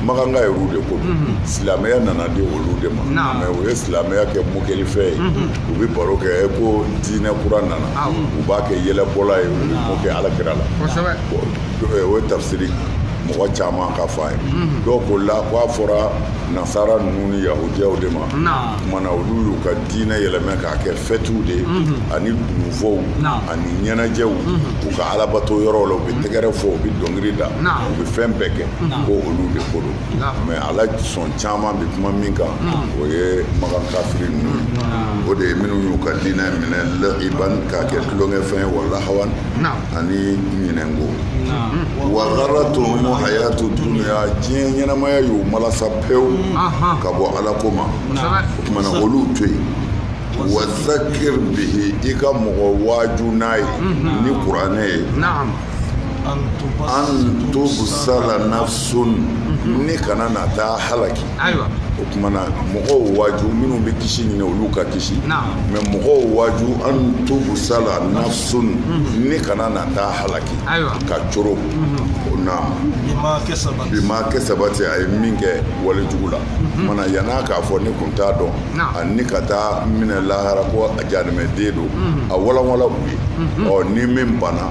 Makankaw ye olu de ko silamɛya nana di olu de ma mɛ u ye silamɛya kɛ mokɛlifɛn ye u bɛ baro kɛ ko diinɛ kura nana u b'a kɛ yɛlɛbɔla ye u bɛ mokɛ ala kira la o ye tafsiri mɔgɔ caman ka fa ye dɔw ko la k' a fɔra nasara ninnu ni yahudiyaw de ma o tumana olu y'u ka diinɛ yɛlɛmɛ k'a kɛ fɛtiw de ye ani dununfɔw ani ɲɛnajɛw u ka alabato yɔrɔ la u bɛ tɛgɛrɛ fɔ u bɛ dɔnkili da u bɛ fɛn bɛɛ kɛ ko olu de ko don mɛ ala sɔn caman bɛ kuma min kan o ye makan kafiri ninnu o de ye minnu y'u ka diinɛ minɛ lahiban k'a kɛ tulonkɛfɛn ye wa lahawan ani ɲinɛnko wa garatumu hayatu dunuya diɲɛ ɲɛnamaya y'u malasa pewu ka bɔ ala ko ma o tumana olu to yen wa zakir bihi i ka mɔgɔ waaju n'a ye ni kuranɛ ye an tubsala nafsun ni kana na taa halaki o tuma na mɔgɔw waaju minnu bɛ kisi ɲini olu ka kisi mɛ mɔgɔw waaju an tubsala nafsun mhm. ni kana na taa halaki ka coron mhm. o na bima kasabati a ye min kɛ wale jugu la mhm. mana yan'a k'a fɔ ni kun t'a dɔn a ni ka taa minɛ lahara ko a jahanamaden don a walanwalan u ye ɔ ni min banna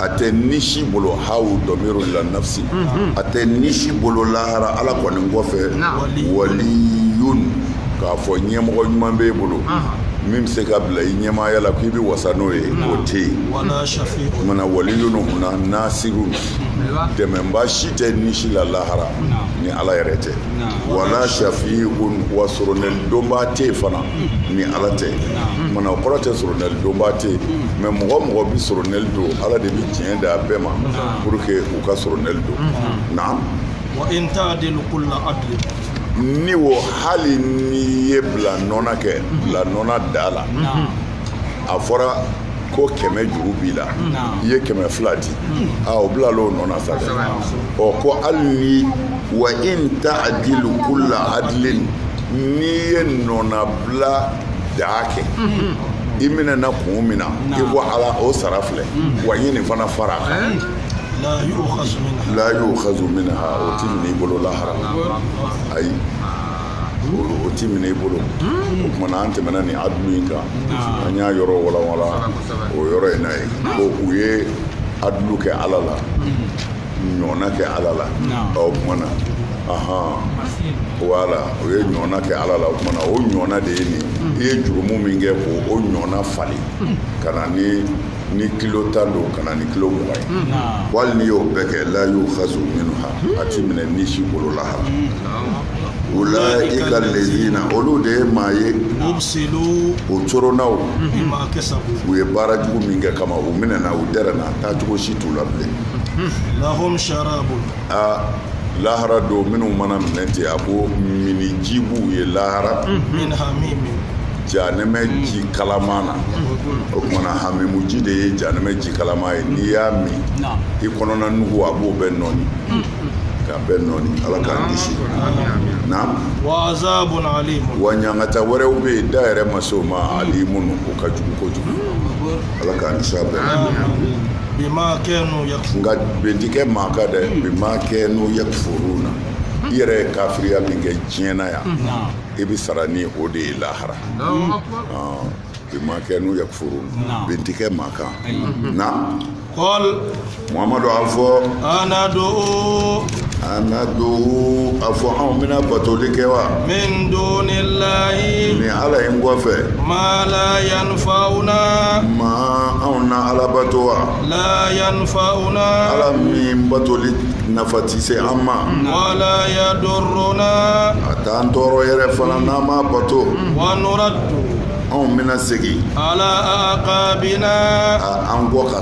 a tɛ ni si bolo hawu domiru la nafsi a tɛ ni si bolo lahara ala kɔni kɔfɛ waliyun k'a fɔ ɲɛmɔgɔ ɲuman b'e bolo min bɛ se ka bila i ɲɛmaaya la k'i bɛ wasa n'o ye o tɛ yen mana waliyun huna nasirun dɛmɛba si tɛ ni si la lahara ni ala yɛrɛ tɛ wala shafiun wa sorona donba tɛ fana ni ala tɛ Mana o kɔrɔ tɛ soronali donba tɛ yen mɛ mɔgɔ mɔgɔ bɛ soronali don ala de bɛ tiɲɛ da a bɛɛ ma pour que u ka soronali don na ni o hali ni ye bila nɔnɔ kɛ bila nɔnɔ da la a fɔra ko kɛmɛ juru b'i la i ye kɛmɛ fila di o bila o nɔ sa ɔ ko hali wa in taadilu kula adilin n'i ye nɔnɔbila da kɛ i minɛ na kun min na i ko ala o sara filɛ wa n ye nin fana fara a kan la yukazu minha o tɛ minɛ i bolo lahara ayi o tɛ minɛ i bolo o tumana an tɛmɛna nin adulu in kan an y'a yɔrɔ walanwalan o yɔrɔ in na ye ko u ye adulu kɛ ala la ɲɔgɔnna kɛ ala la o kumana wala o ye ɲɔgɔnna kɛ ala la o kumana o ɲɔgɔnna de ye nin i ye jurumu min kɛ ko o ɲɔgɔnna falen ka na ni kilo tan don ka na ni kilo mugan ye hmm. wali n'i y'o bɛɛ kɛ la yu'khazu minha hmm. a ti minɛ ni si bolo lahara hmm. ulaika lazina olu de ye maa ye o coronna u ye baara jugu min kɛ kama u minɛna u dɛrɛna taa cogo si t'u la bilen lahum sharabun aa lahara don minnu mana minɛ ten a ko minni ji b'u ye lahara min hamimin janɛmɛ ji kalaman na o kumana hamimu ji de ye janɛmɛ ji kalaman ye n'i y'a min Naam. i kɔnɔna nugu a b'o bɛɛ nɔɔni k'a bɛɛ nɔɔni ala k'an kisi naam wa azabun alimun wa ɲangata wɛrɛw bɛ yen da yɛrɛ ma se o ma alimun o ka jugu kojugu ala k'an kisi a bɛɛ bima kanu yakfurun nka bɛn ti kɛ maa kan dɛ bima kanu yakfuruna i yɛrɛ ye kafiriya min kɛ diɲɛ na yan i bɛ sara ni o de ye lahara bima kanu yakfuruna bɛn ti kɛ maa kan na muhammadu a fɔ anadu anadu a fɔ anw bɛna batoli kɛ wa min dunillahi ni ala in kɔfɛ ma la yanfa'una ma anw na ala bato wa la yanfa'una ala min batoli nafa ti se an ma wala yadurruna a t'an tɔɔrɔ yɛrɛ fana n'an m'a bato wa nuraddu anw bɛna segin ala aqabina an kɔ ka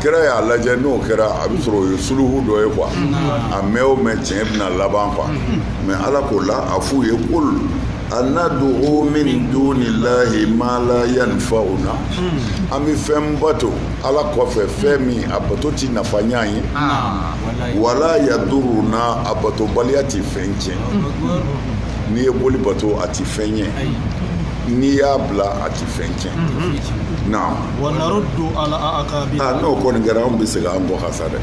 kira y'a lajɛ n'o kɛra a bɛ sɔrɔ o ye suluhu dɔ ye quoi a mɛn o mɛn tiɲɛ bɛna laban quoi mais ala k'o la a f'u ye qul anadu'u min dunillahi ma la yanfa'una an bɛ fɛn bato ala kɔfɛ fɛn min a bato ti nafa ɲɛ ye wala yaduruna a batobaliya ti fɛn tiɲɛ n'i ye boli bato a ti fɛn ɲɛ n'i y'a bila a ti fɛn tiɲɛ n'o kɔni kɛra anw bɛ segin an kɔ ka sa dɛ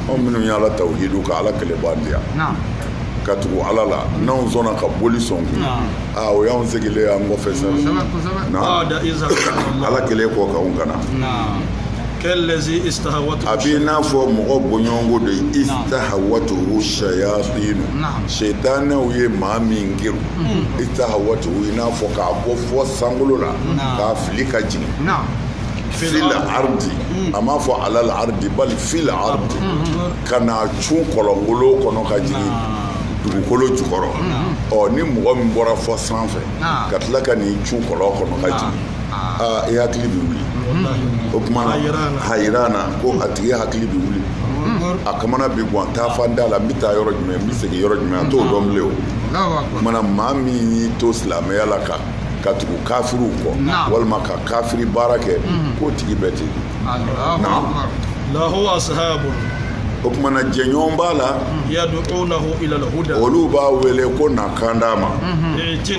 anw minnu ye ala tawhidu ka ala kelen mandiya ka tugu ala la n'anw sɔnna ka boli sɔn kun aa o y'anw segilen an kɔfɛ sa ala kɛlen kɔ ka anw kana a b'i n'a fɔ mɔgɔ bɔɲɔgɔnko de ye istahawatuhu sayatinu setanɛw ye maa min gɛn istahawatuhu i n'a fɔ k'a bɔ fɔ sankolo la k'a fili ka jigin fil ardi a m'a fɔ alal ardi bali fil ardi ka n'a cun kɔlɔngolo kɔnɔ ka jigin dugukolo jukɔrɔ ɔ ni mɔgɔ min bɔra fɔ sanfɛ ka tila ka n'i cun kɔlɔn kɔnɔ ka jigin aa i hakili bɛ wuli o kuma na hayirana ko a tigi hakili bɛ wuli a kamana bɛ gan taa fan da la n bɛ taa yɔrɔ jumɛn n bɛ segin yɔrɔ jumɛn a t'o dɔn bilen o ma na maa min y'i to silamɛya la ka ka tugu kafiriw kɔ walima ka kafiri baara kɛ mhm. k'o tigi bɛ ten o kuma na jɛɲɔgɔn b'a la mhm. olu b'a wele ko na kanda ma mhm. eh,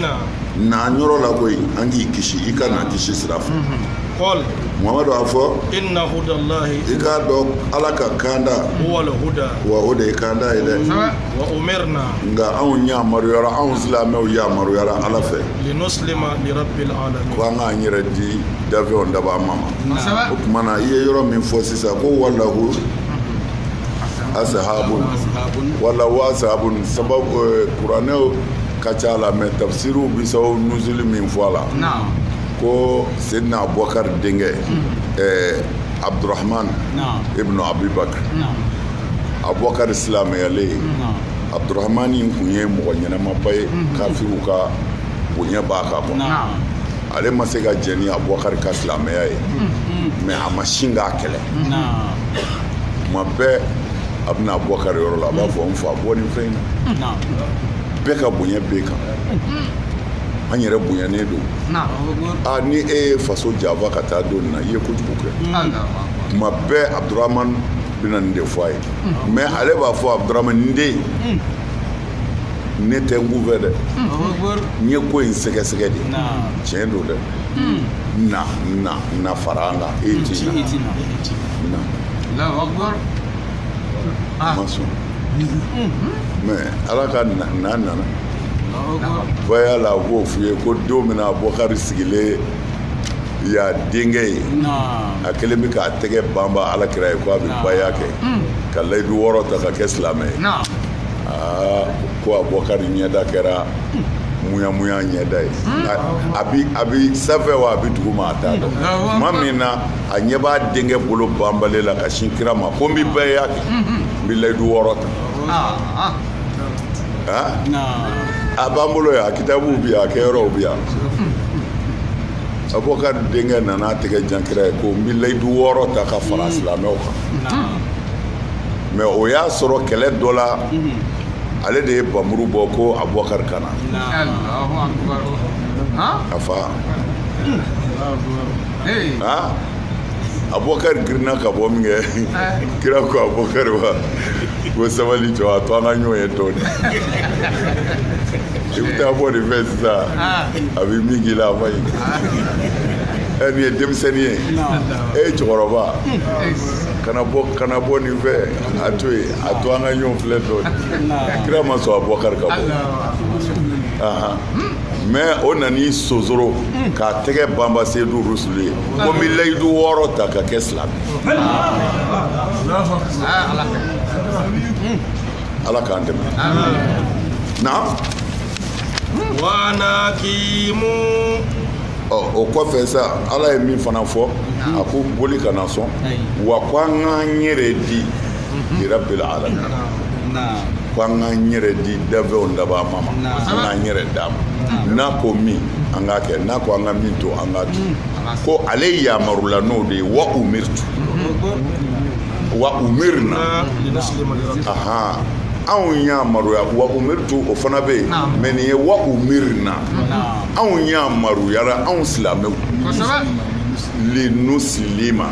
na an yɔrɔ la koyi an k'i kisi i ka na kisi sira fɛ kul mamadu a fɔ inna hudallahi i k'a dɔn ala ka kanda huwal huda wa o de ye kanda ye dɛ nka anw yamaruyara anw silamɛw yamaruyara ala fɛ ko an k'an yɛrɛ di dafɛnw dabaa ma ma o tuma na i ye yɔrɔ min fɔ sisan ko walahu asahabun wala wa asahabun sababu eh, kuranɛw ka ca la mɛ tafsiriw bi sababu nuzuli min fɔ a la ko sedina abubakar denkɛ ɛɛ hmm. eh, abdurahman ibnu abibakar abubakari silamɛyalen ye abudurahmani in kun ye mɔgɔ ɲɛnamaba ye kafiriw ka bonya b'a kan quoi ale ma se ka jɛn ni abubakari ka silamɛya ye mɛ a ma sin k'a kɛlɛ tuma bɛɛ a bɛna abubakari yɔrɔ la a b'a fɔ n fa bɔ nin fɛn in na bɛɛ ka bonya b'e kan an yɛrɛ bonyanen don ni e ye faso janfa ka taa don nin na i ye kojugu kɛ tuma bɛɛ abudurama bɛna nin de fɔ a ye mɛ ale b'a fɔ abudurama n den ne tɛ n kunfɛ dɛ n ye ko in sɛgɛsɛgɛ de tiɲɛ don dɛ na na na fara an kan e ti na a ma sɔn mɛ ala ka na nana baya la a b'o f'i ye ko don min na abubakari sigilen y'a denkɛ ye a kɛlen bɛ k'a tɛgɛ banba ala kira ye ko a bɛ baya kɛ ka layidu wɔɔrɔ ta ka kɛ silamɛ ye aa ko abubakari ɲɛda kɛra muyamuya ɲɛda ye a bɛ sanfɛ wa a bɛ duguma a t'a dɔn tuma min na a ɲɛ b'a denkɛ bolo banbalen la ka sin kira ma ko n bɛ baya kɛ n bɛ layidu wɔɔrɔ ta a b'an bolo yan a kitabuw bi yan a kɛyɔrɔw bi yan abubakar denkɛ nana a tɛgɛ jan kira ye ko n bɛ layidu wɔɔrɔ ta ka fara silamɛw kan mais o y'a sɔrɔ kɛlɛ dɔ la ale de ye bamuru bɔ ko abubakar ka na a fa abubakar girinna ka bɔ min kɛ ah. kira ko abubakar wa ko sabali jɔ a to an ka ɲɔgɔn ye dɔɔni i bɛ taa bɔ nin fɛ sisan ah. a bɛ min k'i la a ma ɲi ah. ɛ nin ye denmisɛnnin ye e ye cɛkɔrɔba kana bɔ kana bɔ nin fɛ a to yen a to an ka ɲɔgɔn filɛ dɔɔni kira ma sɔn abubakar ka bɔ. mais o nan'i sonsoro k'a tɛgɛ banba seyidu rusulu ye ko n bɛ layidu wɔɔrɔ ta ka kɛ silamɛ ala k'an dɛmɛ wa an aqimu o kɔfɛ sa ala ye min fana fɔ a ko boli kana sɔn wa ko an k'an yɛrɛ di li rabbil alamin ko an k'an yɛrɛ di dafɛnw daba ma ma an k'an yɛrɛ d'a ma n'a ko min an k'a kɛ n'a ko an ka min to an k'a to ko ale yamarula n'o de ye wa umirtu wa umirna ahan anw yamaruya wa umirtu o fana bɛ yen mais nin ye wa umirna anw yamaruyara anw silamɛw linuslima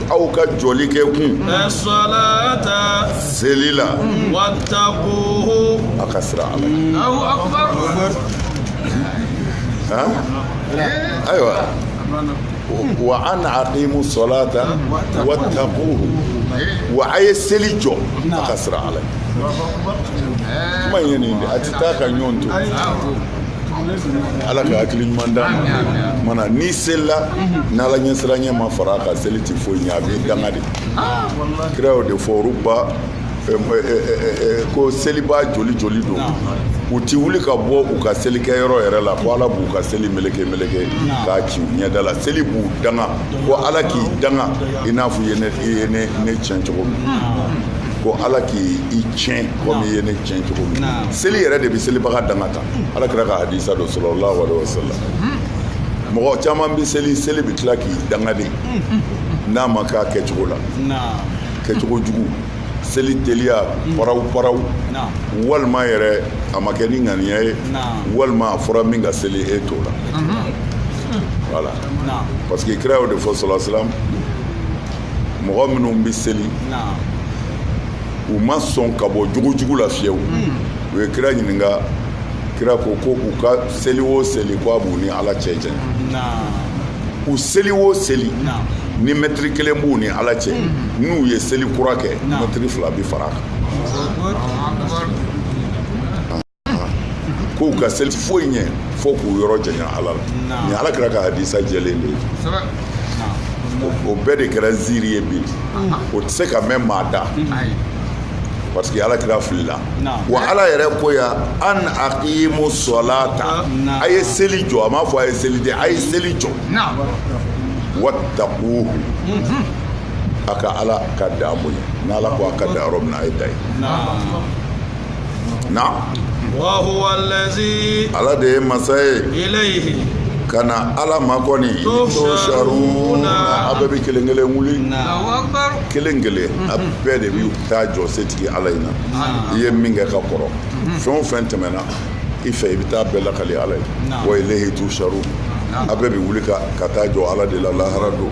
aw ka jɔli kɛ kun asɔlata seli la watakuhu a ka siran ala allahu akubar ayiwa wa an aqimu sɔlata watakuhu wa a ye seli jɔ a ka siran ala kuma in ye nin de a tɛ taa ka ɲɔgɔn to ala ka hakili ɲuman d'an ma maana n'i selila n'ala ɲɛsiranɲɛ ma fara a kan seli ti foyi ɲɛ a b'i danga de kira y'o de fɔ rubba ko selibaa joli joli don u ti wuli ka bɔ u ka selikɛ yɔrɔ yɛrɛ la ko ala b'u ka seli meleke meleke k'a ci u ɲɛda la seli b'u danga ko ala k'i danga i n'a fɔ i ye ne tiɲɛ cogo min ko ala k'i tiɲɛ komi i ye ne tiɲɛ cogo min na seli yɛrɛ de bɛ selibaga danga ta ala kira ka hadisa don sɔlɔlahu alehi wa sallam mɔgɔ caman bɛ seli seli bɛ tila k'i danga de n'a ma k'a kɛcogo la kɛcogo jugu seli teliya paraw paraw walima yɛrɛ a ma kɛ ni ŋaniya ye walima a fɔra min ka seli e t'o la voilà parce que kira y'o de fɔ sɔlɔlahu alehi wa sallam mɔgɔ minnu bɛ seli u ma sɔn ka bɔ jogojugu la fiyewu hmm. u ye kira ɲininka kira ko ko u ka seli o seli ko a b'u ni ala cɛ janya u seli o seli ni mɛtiri kelen b'u ni ala cɛ hmm. n'u ye seli kura kɛ mɛtiri fila bi fara a kan k'u ka seli foyi ɲɛ fo k'u yɔrɔ janya ala la nin ala kira ka hadisa jɛlen de ye o bɛɛ de kɛra ziiri ye bi o tɛ se ka mɛn maa da parce que ala kira filila wa ala yɛrɛ ko ya an aqimu salata a ye seli jɔ a m'a fɔ a ye seli de a ye seli jɔ wattaquhu mhm. a ka ala ka dan bonya n'ala ko a ka dan yɔrɔ min na a ye dan yen na ala de ye masa ye ka na ala ma kɔni tusharuna a bɛɛ bɛ kelen kelen wuli kelen kelen a bɛɛ de bɛ taa jɔ setigi ala in na i ye min kɛ ka kɔrɔ fɛn o fɛn tɛmɛna i fɛ i bɛ taa bɛɛ lakali ala ye wa ilayhi tusharun a bɛɛ bɛ wuli ka taa jɔ ala de la lahara don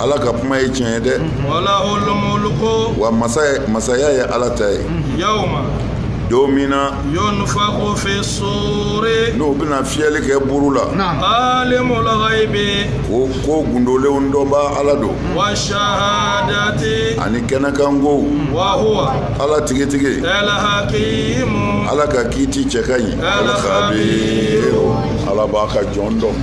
ala ka kuma ye tiɲɛ ye dɛ wa masa masaya ye ala ta ye don min na n'o bɛna fiyɛli kɛ buru la ko ko gundolenw dɔnbaa ala don ani kɛnɛkan kow ala tigitigi ala ka kiiti cɛ ka ɲi al-khabiru ala b'a ka jɔn dɔn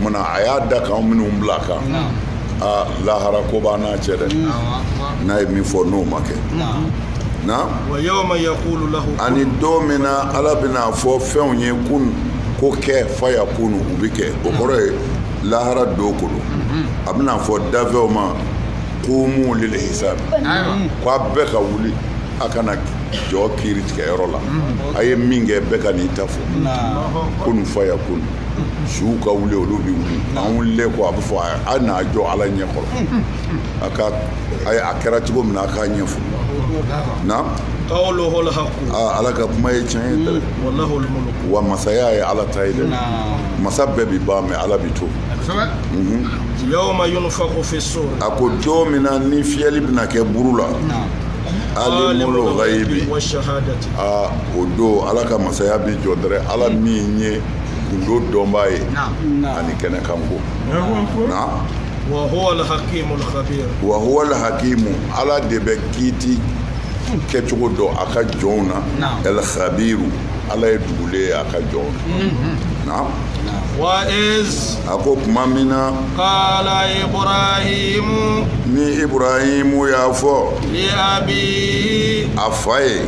Munna a y'a da kan minnu bila a kan aa lahara ko b'a n'a cɛ dɛ n'a ye min fɔ n'o ma kɛ na ani don min na ala bɛna fɔ fɛnw ye kun ko kɛ fayakun u bɛ kɛ o kɔrɔ ye lahara don kolo a bɛna fɔ danfɛnw ma qumu lil hisab k'a bɛɛ ka wuli a ka na jɔ kiiri tigɛ yɔrɔ la a ye min kɛ bɛɛ ka n'i ta fɔ kun fayakun suw ka wuli olu bɛ wuli an wulilen kɔ a bɛ fɔ a na jɔ ala ɲɛ kɔrɔ a ka a kɛra cogo min na a k'a ɲɛfɔ na ala ka kuma ye tiɲɛ ye dɛ mm, wa masaya ye ala ta ye dɛ masa bɛɛ bɛ ban mɛ ala bɛ to mhm. a ko don min na ni fiyɛli bɛna kɛ buru la alimul ghaibi wa shahadati a o don ala ka masaya bi jɔ dɛrɛ ala min ye gundo dɔnbaa ye ani kɛnɛkanko wa huwa alhakimu alkhabir wa huwa alhakimu ala de bɛ kiiti kɛcogo dɔn a ka jɔnw na alkhabiru ala ye dugulen ye a ka jɔnw na naam wa iz a ko tuma min na qala ibrahimu ni ibrahimu y'a fɔ li abihi a fa ye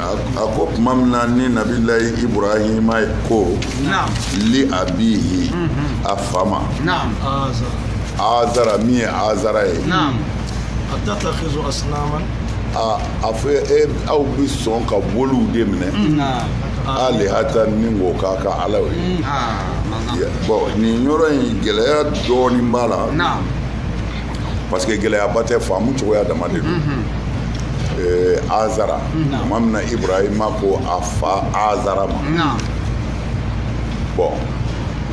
a ko tuma min na ni nabilayi ibrahima ko li abihi a fa ma azara min ye azara ye a fɔ e aw bɛ sɔn ka boliw de minɛ alihatan ni ko k'a ka ala ye bon nin yɔrɔ in gɛlɛya dɔɔnin b'a la parce que gɛlɛyaba tɛ faamu cogoya dama de don eh, azara tuma min na ibrahima ko a fa azara ma bon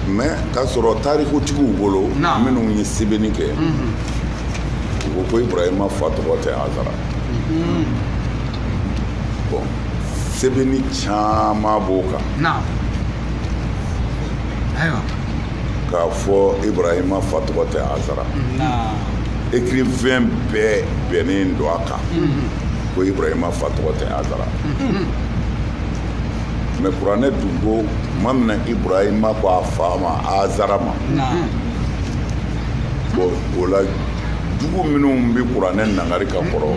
mais k'a sɔrɔ tarikutigiw bolo minnu ye sɛbɛnni kɛ u ko ko ibrahima fa tɔgɔ tɛ azara bon sɛbɛnni caman b'o kan k'a fɔ ibrahima fa tɔgɔ tɛ azara écrivain bɛɛ bɛnnen don a kan ko ibrahima fa tɔgɔ tɛ azara mais kuranɛ dun ko tuma min na ibrahima ko a fa ma azara ma bon o la jugu minnu bɛ kuranɛ nangari ka kɔrɔ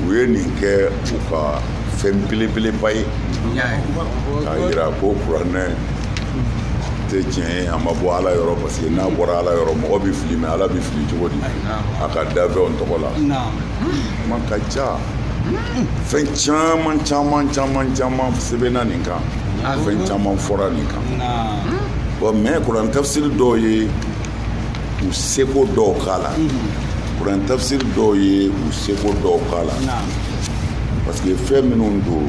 u ye nin kɛ u ka fɛn belebeleba ye k'a jira ko kuranɛ tɛ tiɲɛ ye a ma bɔ ala yɔrɔ parce que n'a bɔra ala yɔrɔ mɔgɔ bɛ fili mais ala bɛ fili cogo di a ka dafɛnw tɔgɔ la kuma ka ca fɛn caman caman caman caman sɛbɛnna nin kan fɛn caman fɔra nin kan bon mais kuran tafsiri dɔw ye u seko dɔw k'a la kuran tafsiri dɔw ye u seko dɔw k'a la parce que fɛn minnu don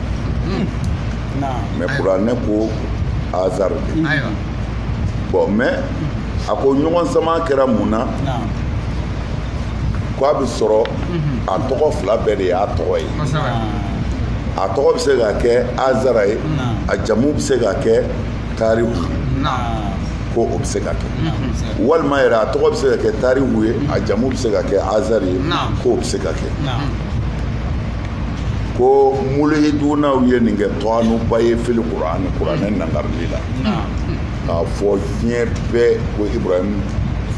mais kuranɛ ko azara de bon mais a ko ɲɔgɔn sama kɛra mun na ko a bɛ sɔrɔ a tɔgɔ fila bɛɛ de y'a tɔgɔ ye a tɔgɔ bɛ se ka kɛ azara ye a jamu bɛ se ka kɛ tarihu ye ko o bɛ se ka kɛ walima yɛrɛ a tɔgɔ bɛ se ka kɛ tarihu ye a jamu bɛ se ka kɛ azara ye ko o bɛ se ka kɛ ko mulihidunaw ye nin kɛ tɔanuba ye fili kuran kuranɛ nangarili la k'a fɔ diɲɛ bɛɛ ko ibrahim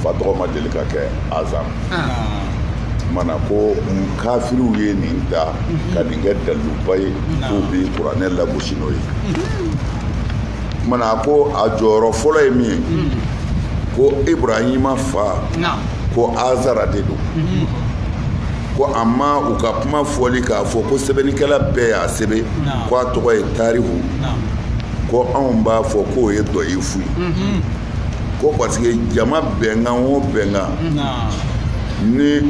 fa tɔgɔ ma deli ka kɛ azar mana ko kafiriw ye nin ta ka nin kɛ daluba ye k'u bi kuranɛ lagosi n'o ye mana ko a jɔyɔrɔ fɔlɔ ye min ye ko ibrahima fa ko azara de don ko a ma u ka kuma fɔli k'a fɔ ko sɛbɛnnikɛla bɛɛ y'a sɛbɛn ko a tɔgɔ ye tarihu ko anw b'a fɔ k'o ye dɔyifu ye mhm. ko parce que jama bɛnkan o bɛnkan ni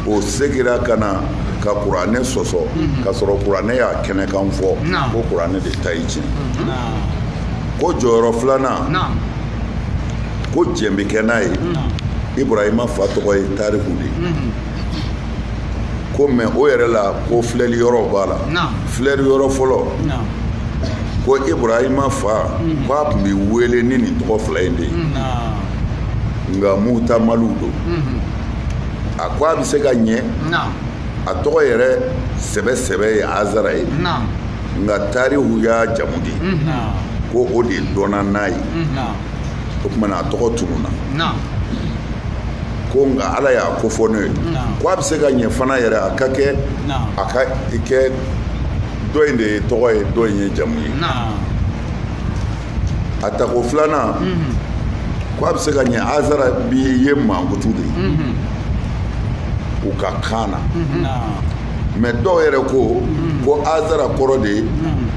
o segira ka na ka kuranɛ sɔsɔ mhm. ka sɔrɔ kuranɛ y'a kɛnɛkan fɔ ko kuranɛ de ta ye tiɲɛ ko jɔyɔrɔ filanan ko jɛn bɛ kɛ n'a ye ibrahima fa tɔgɔ ye tarihu de ye ko mɛ o yɛrɛ la ko filɛli yɔrɔ b'a la filɛli yɔrɔ fɔlɔ ko ibrahima fa ko a tun bɛ wele ni nin tɔgɔ fila in de ye nka muhtamalu don a ko a bɛ se ka ɲɛ a tɔgɔ yɛrɛ sɛbɛ sɛbɛ ye azara ye nka tarihu y'a jamu de ye ko o de dɔnna n'a ye o tuma na a tɔgɔ tununna ko nka ala y'a kofɔ ne ye ko a bɛ se ka ɲɛ fana yɛrɛ a ka kɛ a ka i kɛ dɔ in de ye tɔgɔ ye dɔ in ye jamu ye a tako filanan mhm. ko a bɛ se ka ɲɛ azara bi ye mankutu de ye mhm. u ka kan na mhm. mɛ dɔw yɛrɛ ko ko azara kɔrɔ de ye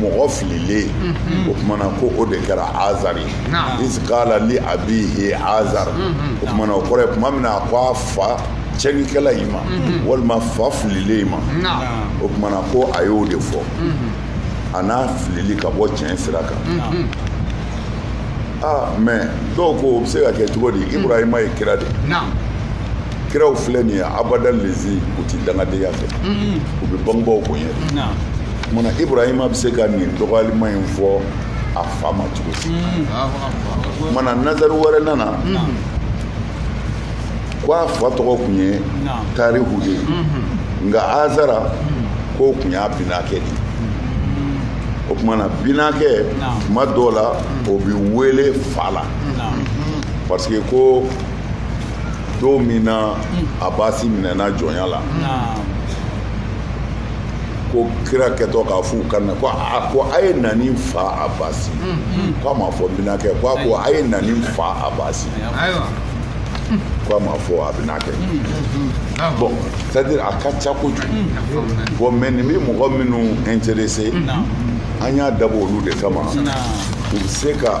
mɔgɔ fililen mhm. o kumana ko o de kɛra azar ye iskala li abihi azar mhm. o kumana o kɔrɔ ye kuma min na a ko a fa cɛnikɛla in ma mhm. walima fa fililen in ma o kumana ko a y'o de fɔ a n'a filili ka bɔ tiɲɛ sira kan aa ah, mɛ dɔw ko o bɛ se ka kɛ cogo di ibrahima ye kira de kiraw filɛ nin ye abada lezi u ti dangadenya fɛ u bɛ bangebaaw bonya de kumana ibrahima bɛ se ka nin dɔgɔyalima in fɔ a fa ma cogo si kumana nazari wɛrɛ nana ko a fa tɔgɔ tun ye tarihu ye nka azara k'o tun y'a binakɛ de o kumana binakɛ tuma dɔw la o bɛ wele fa la parce que ko don min na abasi minɛna jɔnya la ko kira kɛtɔ k'a f'u ka na ko a ko a ye na ni n fa abasi k'a ma fɔ binakɛ ko a ko a ye na ni n fa abasi ko a ma fɔ a binakɛ bon c'est à dire a ka ca kojugu bon mais nin bɛ mɔgɔ minnu intéressé an y'a dabɔ olu de kama u bɛ se ka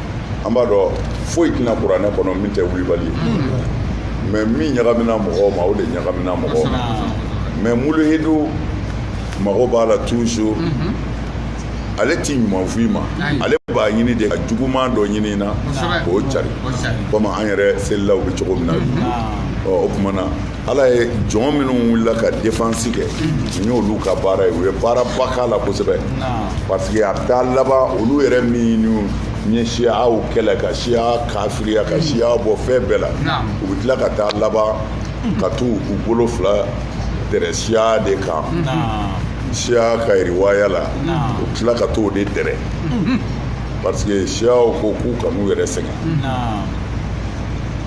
an b'a dɔn foyi tɛna kuranɛ kɔnɔ min tɛ wulibali ye mais min ɲagamina mɔgɔw ma o de ɲagamina mɔgɔw ma mais muluhidu mago b'a la toujours ale t'i ɲuman f'i ma ale b'a ɲini de ka juguman dɔ ɲini na k'o cari komi an yɛrɛ selilaw bɛ cogo min na ɔ o tuma na ala ye jɔn minnu wulila ka defansi kɛ nin y'olu ka baara ye u ye baaraba k'a la kosɛbɛ parce que a bɛ taa laban olu yɛrɛ min ye siyaw kɛlɛ ka siya kafiriya ka siya bɔ fɛn bɛɛ la u bɛ tila ka taa laban ka t'u u bolo fila dɛrɛ siya de kan siya ka riwaya la u bɛ tila ka t'o de dɛrɛ parce que siyaw ko k'u kan'u yɛrɛ sɛgɛn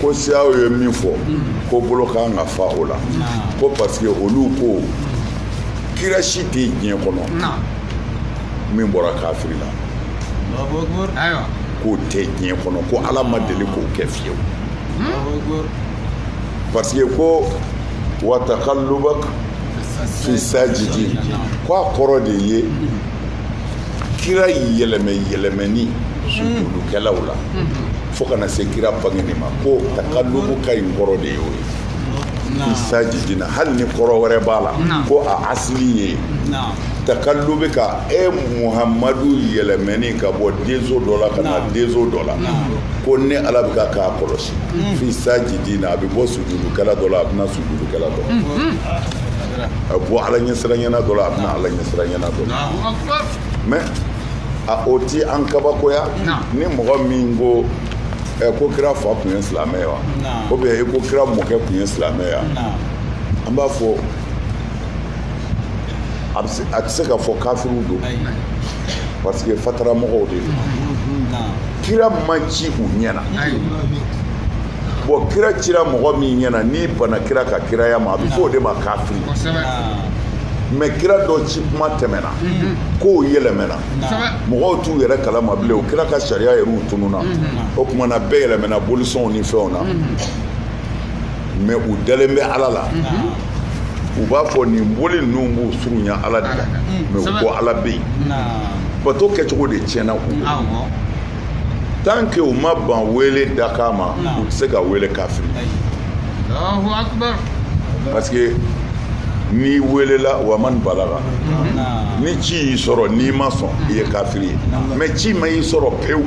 ko siyaw ye min fɔ ko bolo kan ka fa o la ko parce que olu ko kira si tɛ diɲɛ kɔnɔ min bɔra kafiri la k'o tɛ diɲɛ kɔnɔ ko ala ma deli k'o kɛ fiyewu parce que ko wa takalubak fi sajidin ko a kɔrɔ de ye kira yɛlɛmɛ yɛlɛmɛni sujudukɛlaw la fo ka na se kira bangeni ma ko takalubuka in kɔrɔ de y'o ye fi sajidina hali ni kɔrɔ wɛrɛ b'a la ko a asili ye takallubuka e muhamadu yɛlɛmɛni ka bɔ denso dɔ la ka na denso dɔ la ko ne ala bɛ ka k'a kɔlɔsi mm. fi sajidina a bɛ bɔ sujudukɛla dɔ la a bɛ na sujudukɛla dɔ mm, mm. a bɔ ala ɲɛsiranyana dɔ la a bɛ na ala ɲɛsiranyana dɔ la mais a o ti an kabakoya ni mɔgɔ min ko ko kira fa tun ye silamɛ ye wa ou bien ko kira mɔkɛ tun ye silamɛ ye an b'a fɔ a tɛ se ka fɔ kafiriw don parce que fatara mɔgɔw de don kira ma ci u ɲɛna bon kira cira mɔgɔ min ɲɛna n'i banna kira ka kiraya ma a bɛ fɔ o de ma kafiri mais kira dɔ ci kuma tɛmɛna kow yɛlɛmɛna mɔgɔw t'u yɛrɛ kala ma bilen o kira ka sariya yɛrɛ u tununna o tuma na bɛɛ yɛlɛmɛna bolisɔnw ni fɛnw na mais u dalen bɛ ala la u b'a fɔ nin boli ninnu b'u surunya ala de la mais u ko ala bɛ yen bato kɛcogo de tiɲɛna u tant que u ma ban wele dakan ma u tɛ se ka wele kafiri parce que n'i welela wa man balaga ni ci y'i sɔrɔ n'i ma sɔn i ye kafiri ye mais ci ma y'i sɔrɔ pewu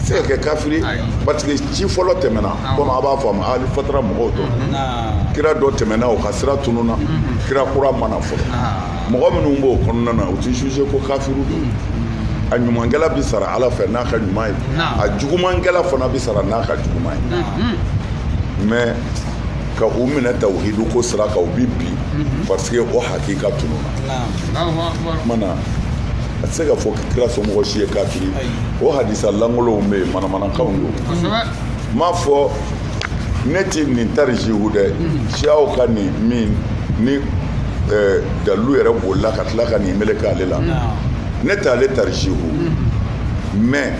se ka kɛ kafiri parce que ci fɔlɔ tɛmɛna komi a b'a faamu ali fatara mɔgɔw don kira dɔ tɛmɛna o ka sira tununa kira kura ma na fɔlɔ mɔgɔ minnu b'o kɔnɔna na u tɛ jugé ko kafiri don a ɲumankɛla bɛ sara ala fɛ n'a ka ɲuman ye a jugumankɛla fana bɛ sara n'a ka juguman ye mais ka u minɛ tawhidu ko sira kan o bi bin mhm. parce que o hakika tununa ma na a tɛ se ka fɔ kira somɔgɔ si ye kafiri o hadisa lankolonw bɛ yen manamanakanw don m'a fɔ ne tɛ nin tarijihu dɛ siyaw ka nin min ni dalu yɛrɛ bolila ka tila ka nin meleke ale la ne tɛ ale tarijihu mais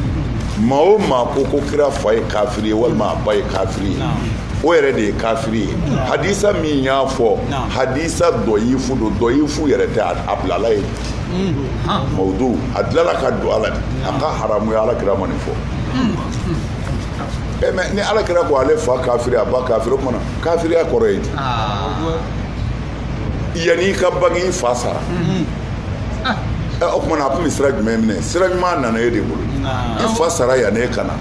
maa o maa ko ko kira fa ye kafiri ye walima a ba ye kafiri ye o yɛrɛ de ye kafiri ye hadisa min y'a fɔ hadisa dɔyifu don dɔyifu yɛrɛ tɛ a bilala ye mawudu a dilala ka don a la de a ka haramu ye ala kira ma nin fɔ e mais ni ala kira ko ale fa kafiri a ba kafiri o tuma na kafiriya kɔrɔ ye di yanni i ka bange i fa sara o tuma na a tun bɛ sira jumɛn minɛ sira ɲuman nana e de bolo i fa sara yanni e ka na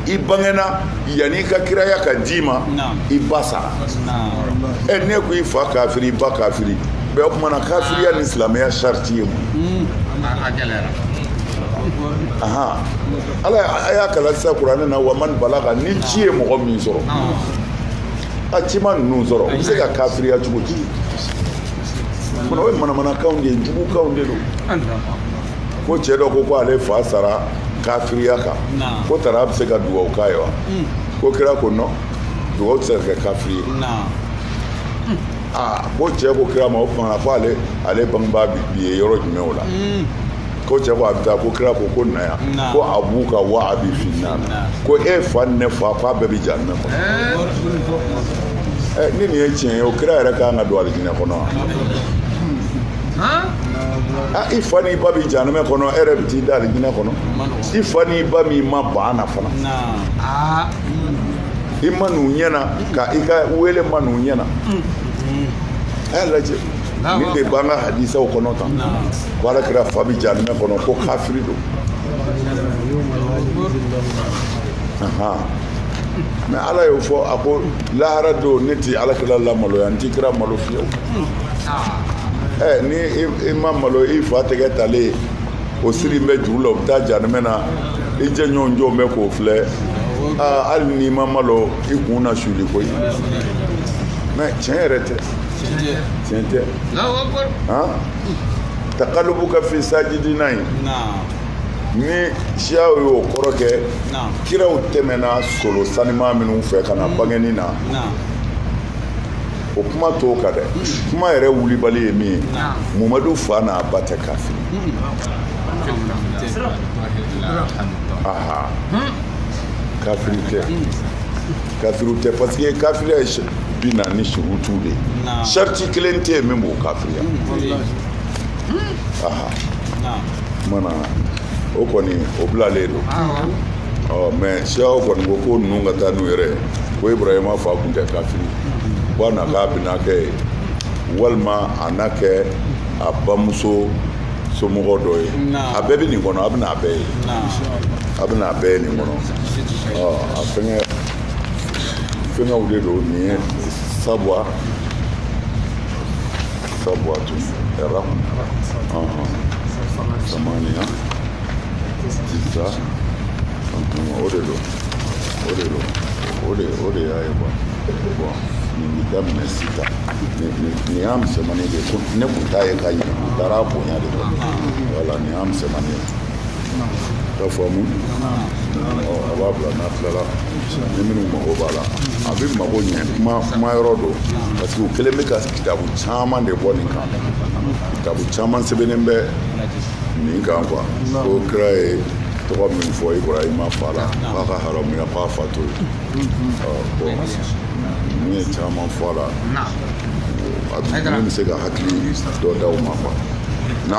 i bangena yanni i ka kiraya ka d'i ma i ba sara ɛ ne ko i fa kafiri i ba kafiri bɛɛ o tuma na kafiriya ni silamɛya sariti ye mun ala a y'a kalan sisan kuranɛ na wa man balaga ni ci ye mɔgɔ min sɔrɔ a ci ma ninnu sɔrɔ u bɛ se ka kafiriya cogo di fana o ye manamanakanw de ye jugukanw de don ko cɛ dɔ ko ko ale fa sara kafiriya kan ko tara a bɛ se ka dugawu k'a ye wa hmm. ko kira ko non dugawu tɛ se ka kɛ kafiri ye aa ko cɛ ko kira ma o tuma na ko ale ale bangebaa bi ye yɔrɔ jumɛn o la hmm. ko cɛ ko a bɛ taa ko kira ko ko na yan Na. ko abuka wa abi finnar Na. ko e fa ni ne fa k'a bɛɛ bɛ janɛmɛ kɔnɔ ɛ ni nin ye tiɲɛ ye o kira yɛrɛ kan ka don alijinɛ kɔnɔ wa a i fa n'i ba bɛ janɛmɛ kɔnɔ e yɛrɛ bɛ t'i da alijinɛ kɔnɔ i fa n'i ba min ma ban na fana Naa. i ma n'u ɲɛ na ka i ka wele ma n'u ɲɛ na a y'a lajɛ nin de b'an ka hadisaw kɔnɔ tan ko ala kira fa bɛ jahanamɛ kɔnɔ ko kafiri don mais ala y'o fɔ a ko lahara don ne ti ala kira lamaloya n ti kira malo fiyewu ɛ ni i ma malo i fa tɛgɛ talen o sirilen bɛ juru la o bɛ taa jahanamɛ na i jɛɲɔgɔn jɔlen bɛ k'o filɛ hali n'i ma malo i kun na suli koyi mais tiɲɛ yɛrɛ tɛ tiɲɛ tɛ takalubuka fi sajidina in ni siyaw y'o kɔrɔ kɛ kiraw tɛmɛna solo sanima minnu fɛ ka na bangeni na o kuma t'o kan dɛ kuma yɛrɛ wulibali ye min ye mumadu fa n'a ba tɛ kafiri kafiri tɛ kafiriw tɛ parce que kafiriya ye bi na ni surutu de ye sariti kelen tɛ yen min b'o kafiriya mana o kɔni o bilalen don ɔ mais siyaw kɔni ko ko ninnu ka taa n'u yɛrɛ ye ko ibrahima fa tun tɛ kafiri bon a na k'a binakɛ ye walima a na kɛ a bamuso somɔgɔ dɔ ye a bɛɛ bɛ nin kɔnɔ a bɛna a bɛɛ ye a bɛna a bɛɛ ye nin kɔnɔ ɔ a fɛngɛ fɛngɛw de don nin ye sabuwa sabuwa tun ɛra samaniya tisa o de don o de don o de o de y'a ye quoi bon nin bɛ daminɛ sisan nin y'a misɛnmani de ye ko ne tun t'a ye ka ɲɛ n taara bonya de kɔ voilà nin y'a misɛnmani ye ka faamu a b'a bila n'a tilala ni minnu mago b'a la a bɛ mago ɲɛ kuma yɔrɔ don parce que u kɛlen bɛ ka kitabu caman de bɔ nin kan kitabu caman sɛbɛnnen bɛ nin kan quoi ko kira ye tɔgɔ min fɔ ibrahima fa la k'a ka haramuya k'a fa to ye bon ninnu ye caman fɔ a la a bɛ se ka hakili dɔ d'aw ma quoi na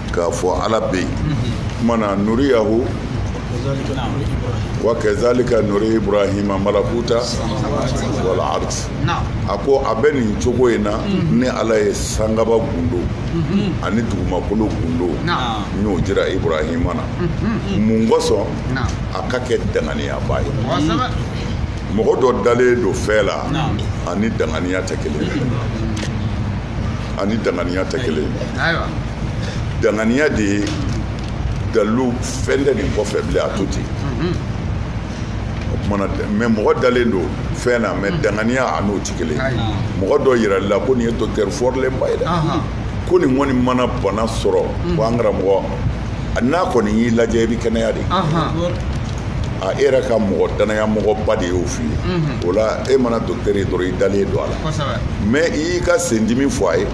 k'a fɔ ala bɛ mana nuriyahu wa kazalika nuri ibrahima malakuta wal ardi a ko a bɛ nin cogo in na ne ala ye sangaba gundo ani dugumakolo gundo n y'o jira ibrahima na mun kosɔn a ka kɛ danganiyaba ye mɔgɔ dɔ dalen don fɛn la ani danganiya tɛ kelen ani danganiya tɛ kelen danganiya de ye dalilu fɛn tɛ nin kɔfɛ bilen a to ten mhm. o tumana mɛ mɔgɔ dalen don fɛn na mɛ mhm. danganiya a n'o tɛ kelen mɔgɔ dɔ yirala i la ko nin ye docteur fɔrilenba ye dɛ ko nin kɔni mana bana sɔrɔ mhm. ko an karamɔgɔ n'a kɔni y'i lajɛ i bɛ kɛnɛya dɛ A e yɛrɛ ka mɔgɔ dannayamɔgɔba de y'o f'i ye o la e mana docteur ye dɔrɔn i dalen don a la mɛ i y'i ka sendimi fɔ a ye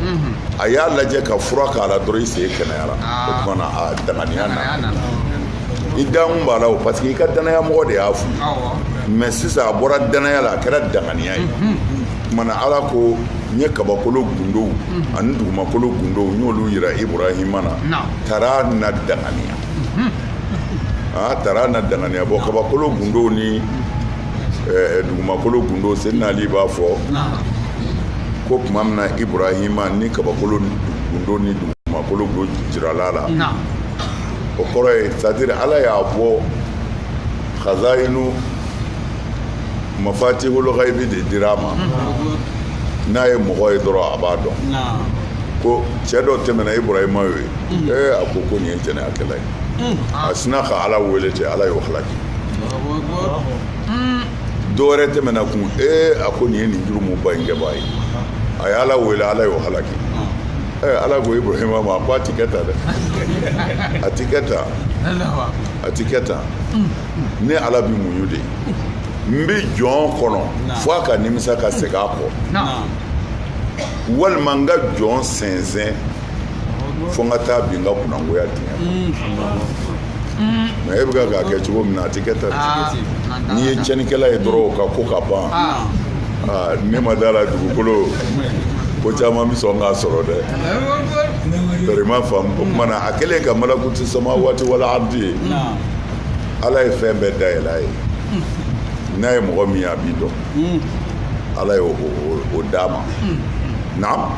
a y'a lajɛ ka fura k'a la dɔrɔn i sen kɛnɛyara o tumana a danganiya na i da b'a la o parce que i ka dannayamɔgɔ de y'a fɔ mɛ sisan a bɔra dannaya la a kɛra danganiya ye o tumana ala ko n ye kabakolo gundow ani dugumakolo gundow n y'olu yira ibrahima na taara na danganiya aa taara na danganiya bɔ kabakolo gundo ni eh, dugumakolo gundo seydina ali b'a fɔ ko tuma min na ibrahima ni kabakolo gundo ni dugumakolo gundo jirala la o kɔrɔ ye c'est-à-dire ala y'a bɔ khazayinu mafatihul ghaibi de dira a ma n'a ye mɔgɔ ye dɔrɔn a b'a dɔn ko cɛ dɔ tɛmɛna ibrahima ye mm. ee a ko ko nin ye jɛnɛyakɛla ye mm. a sina ka ala wele ten ala y'o halaki mm. dɔwɛrɛ tɛmɛna kun ee a ko nin ye nin jurumuba in kɛbaa ye a ye ala wele ala y'o halaki ee ala ko ibrahima ma a ko a ti kɛ tan dɛ a ti kɛ tan a ti kɛ tan ne ala bi muɲu de n bɛ jɔn kɔnɔ fo a ka nimisa ka segin a kɔ walima n ka jɔn sɛnsɛn fo n ka taa bin n ka kunangoya dingɛ mɛ e bɛ ka k'a kɛ cogo min na a tɛ kɛ tan ah, n'i ye cɛnnikɛla ye dɔrɔn o ka ko ka ban ah. Ah, ne ma da a la dugukolo ko caman bɛ sɔn k'a sɔrɔ dɛ bari ma faamu o tuma na a kɛlen ka malakuti samawati wal ardi ye ala ye fɛn bɛɛ dayɛlɛ a ye n'a ye mɔgɔ min ye a b'i dɔn hmm. ala ye o d'a ma hmm. naam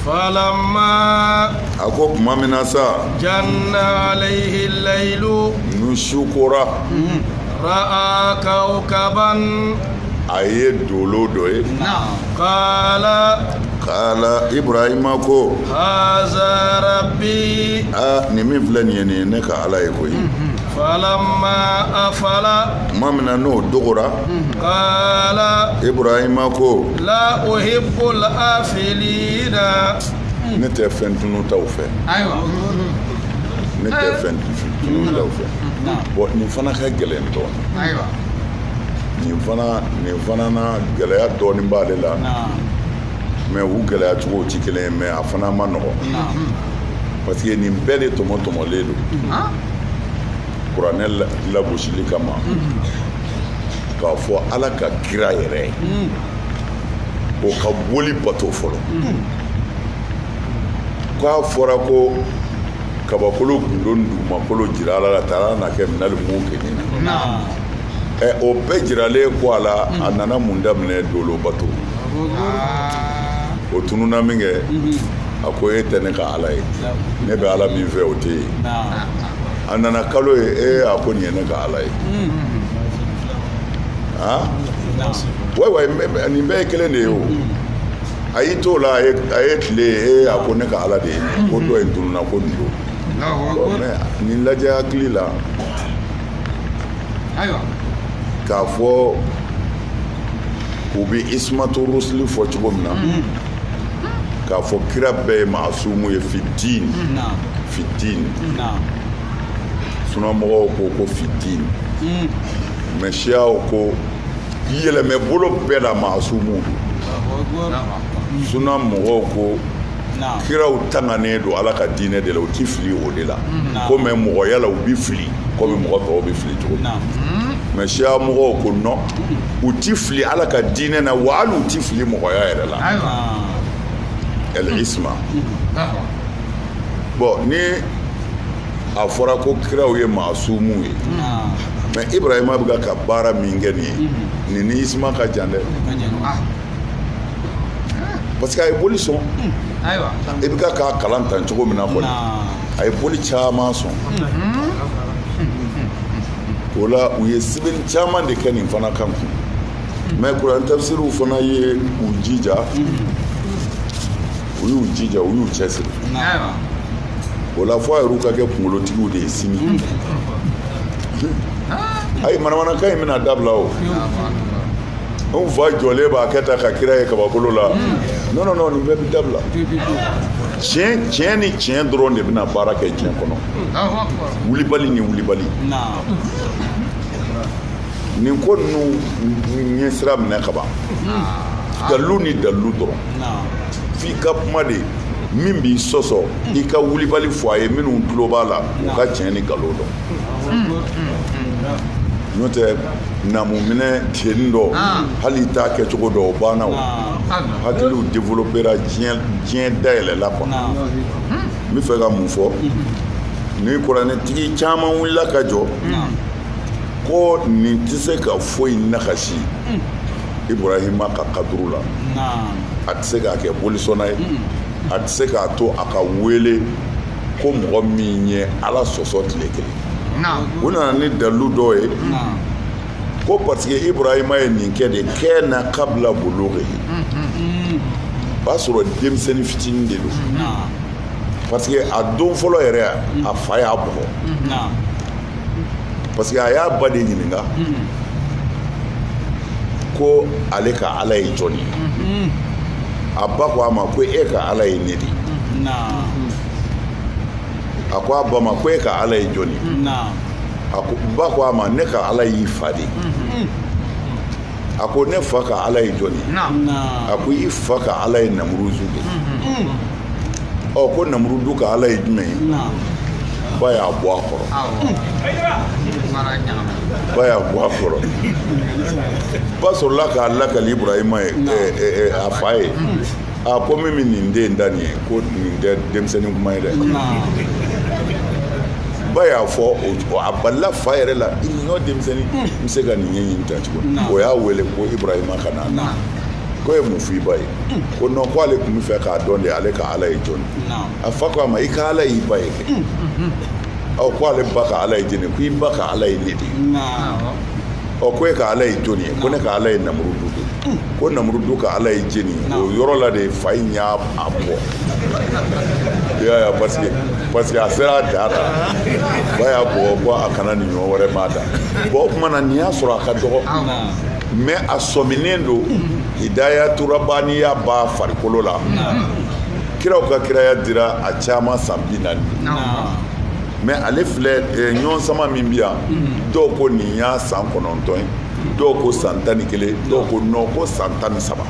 falama a ko tuma min na sa janna alayhi layilu ni su kora ra'a kawkaban a ye dolo dɔ ye kala kala ibrahima ko haza rabi aa nin min filɛ nin ye nin ye ne ka ala ye ko ye falama afala tuma min na n'o dogora kala ibrahima ko la uhibul afilina. ne tɛ fɛn tununtaw fɛ. ayiwa. ne tɛ fɛn tununtaw fɛ. bɔn nin fana ka gɛlɛn dɔɔni. ayiwa. nin fana nin fana na gɛlɛya dɔɔni b'ale la. mɛ u gɛlɛya cogo tɛ kelen ye mɛ a fana ma nɔgɔ. parce que nin bɛɛ de tɔmɔtɔmɔlen don. kuranɛ lagosili kama k'a fɔ ala ka kira yɛrɛ o ka boli bato fɔlɔ ko a fɔra ko kabakolo gundo ni dugumakolo jirala a la taara na kɛ minal mukinina ɛ o bɛɛ jiralen kɔ a la a nana mun daminɛ dolo bato o tununa minkɛ a ko e tɛ ne ka ala ye ne bɛ ala min fɛ o tɛ yen a nana kalo ye ee a ko nin ye ne ka ala ye wa wa nin bɛɛ ye kelen de ye o a y'i to la a ye tile ye a ko ne ka ala de ye ko dɔ in tununa ko nin don nin lajɛ hakili la k'a fɔ u bɛ ismatu rusuli fɔ cogo min na k'a fɔ kira bɛɛ ye maasumu ye fi diin fi diin sunamɔgɔw ko ko fi diin hmm. mɛ siyaw ko yɛlɛmɛbolo bɛɛ la maasumu don sunamɔgɔw ko kiraw tanganen don ala ka diinɛ de la u ti fili o de la ko mɛ mɔgɔya la u bi fili komi mɔgɔ tɔw bi fili cogo min mɛ siya mɔgɔw ko non u ti fili ala ka diinɛ na wa hali u ti fili mɔgɔya yɛrɛ la el isma bɔn ni a fɔra ko kiraw ye maasumu ye mɛ ibrahima bɛ ka baara min kɛ nin ye nin ni isma ka jan dɛ parce que a ye boli sɔn i bɛ ka k'a kalan tan cogo min na kɔni a ye boli caman sɔn o la u ye sɛbɛnni caman de kɛ nin fana kan kun mɛ kuran tafisiriw fana ye u jija u y'u jija u y'u cɛsiri o la fo a yɛrɛw ka kɛ kunkolotigiw de ye sini ayi manamanakan in bɛna dabila o anw fa jɔlen b'a kɛ taa ka kira ye kabakolo la non non non nin bɛɛ bɛ dabila tiɲɛ tiɲɛ ni tiɲɛ dɔrɔn de bɛna baara kɛ diɲɛ kɔnɔ wulibali ni wulibali nin ko ninnu ɲɛsira minɛ ka ban dalilu ni dalilu dɔrɔn f'i ka kuma de min b'i sɔsɔ i ka wulibali fɔ a ye minnu tulo b'a la u ka tiɲɛ ni nkalon dɔn n'o tɛ namuminɛ teni dɔ ah. hali t'a kɛcogo dɔn o banna o ah. ah. hakiliw développera diɲɛ dayɛlɛla quoi n bɛ fɛ ka mun fɔ mm-hmm. ni kuranɛtigi caman wulila ka jɔ ko nin tɛ se ka foyi nakasi mm. iburahima ka kaduru la a tɛ se k'a kɛ bolisɔnna ye a tɛ se k'a to a ka wele ko mɔgɔ min ye ala sɔsɔ tile kelen u nana ni dalilu dɔ ye ko parce que iburahima ye nin kɛ de kɛ na kabila bulugi o b'a sɔrɔ denmisɛnnin fitinin de don parce que a don fɔlɔ yɛrɛ a fa y'a bugɔ parce que a y'a ba de ɲininka ko ale ka ala ye jɔn ye a ba ko a ma ko e ka ala ye ne de a ko a ba ma ko e ka ala ye jɔn ye a ko ba ko a ma ne ka ala y'i fa de a ko ne fa ka ala ye jɔn ye a ko i fa ka ala ye namuruzu de ɔ ko namurudu ka ala ye jumɛn ye ba y'a bɔ a kɔrɔ ba y'a bɔ a kɔrɔ ba sɔrɔla k'a lakali iburahima ye a fa ye a ko min bɛ nin den da nin ye ko nin tɛ denmisɛnnin kuma ye dɛ ba y'a fɔ a balila fa yɛrɛ la nin ɲɔgɔn denmisɛnnin bɛ se ka nin ɲɛɲini tan cogo o y'a wele ko iburahima ka na ko i ye mun f'i ba ye ko non ko ale tun bɛ fɛ k'a dɔn de ale ka ala ye jɔni a fa ko a ma i ka ala y'i ba ye kɛ mm, mm, mm. ɔ ko ale ba ka ala ye jɛni ko i ba ka ala ye ne de ye ɔ ko e ka ala ye jɔni ye ko ne ka ala ye namurudu de ko namurudu ka ala ye jɛni ye o yɔrɔ la de fa in y'a bugɔ i y'a ye parce que parce que a sera a dan na ba y'a bugɔ ko a kana nin ɲɔgɔn wɛrɛ m'a da bon o tuma na nin y'a sɔrɔ a ka dɔgɔ mais a sɔminen don hidayatu rabaniya b'a farikolo la kiraw ka kiraya dira a caman san bi naani mais ale filɛ eh, ɲɔgɔn sama min bi yan dɔw ko nin y'a san kɔnɔntɔn ye dɔw ko san tan ni kelen dɔw ko non ko san tan ni saba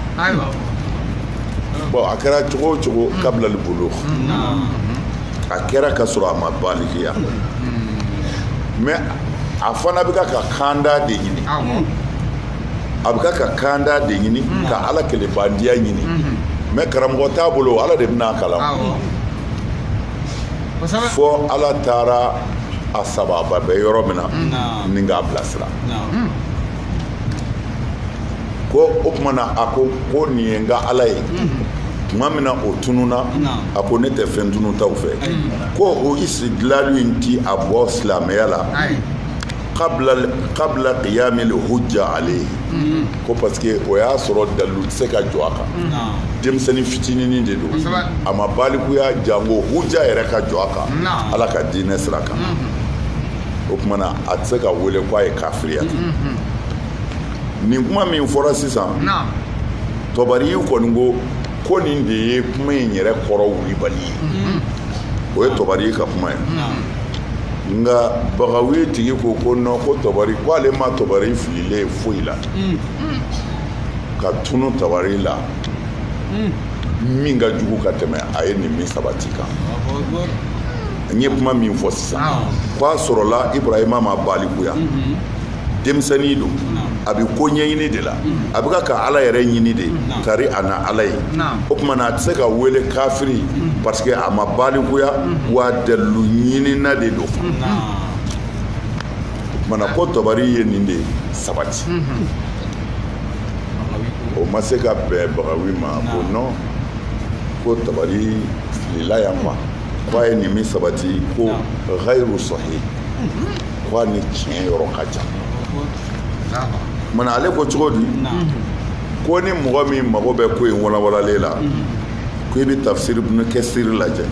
bon a kɛra cogo o cogo kabilali bulu a kɛra ka sɔrɔ a ma balikiya mais a fana bɛ k'a ka kanda de ɲini a bɛ k'a ka kanda de ɲini ka ala kelenbandiya ɲini mais karamɔgɔ t'a bolo ala de bɛna a kalan fo ala taara a sababa bɛ yɔrɔ min na ni k'a bilasira ko o tuma na a ko ko nin ye n ka ala ye tuma min na o tununna a ko ne tɛ fɛn tununtaw fɛ ko o istidilali in ti a bɔ silamɛya la qabla qiyamil hujja alayhi ko parce que o y'a sɔrɔ dalilu tɛ se ka jɔ a kan denmisɛnnin fitininin de don a ma balikuya jango hujja yɛrɛ ka jɔ a kan ala ka diinɛ sira kan o tuma na a tɛ se ka wele k'a ye kafiriya nin kuma min fɔra sisan tɔbari kɔni ko ko nin de ye kuma in yɛrɛ kɔrɔ wulibali ye mhm. o ye tɔbari ka kuma ye nka bagawi tigi ko ko non ko tɔbari ko ale ma tɔbari fililen ye foyi la mhm. ka tunu tɔbari la mhm. min ka jugu ka tɛmɛ a ye nin min sabati kan n ye kuma min fɔ sisan ko a sɔrɔla ibrahima ma balikuya denmisɛnnin don a bɛ ko ɲɛɲini de la a bɛ ka ala yɛrɛ ɲini de tari a na ala ye o tuma na a tɛ se ka wele kafiri parce que a ma balikuya wa dalilu ɲinina de don o tuma na ko tɔbari ye nin de sabati o ma se ka bɛn bagawi ma ko non ko tɔbari filila yan ma k'a ye nin min sabati ko gayru sahi k'a ni tiɲɛ yɔrɔ ka jan munna ale ko cogo di ko ni mɔgɔ min mago bɛ ko in walawalalen la ko i bɛ tafsiri ibn kasiri lajɛ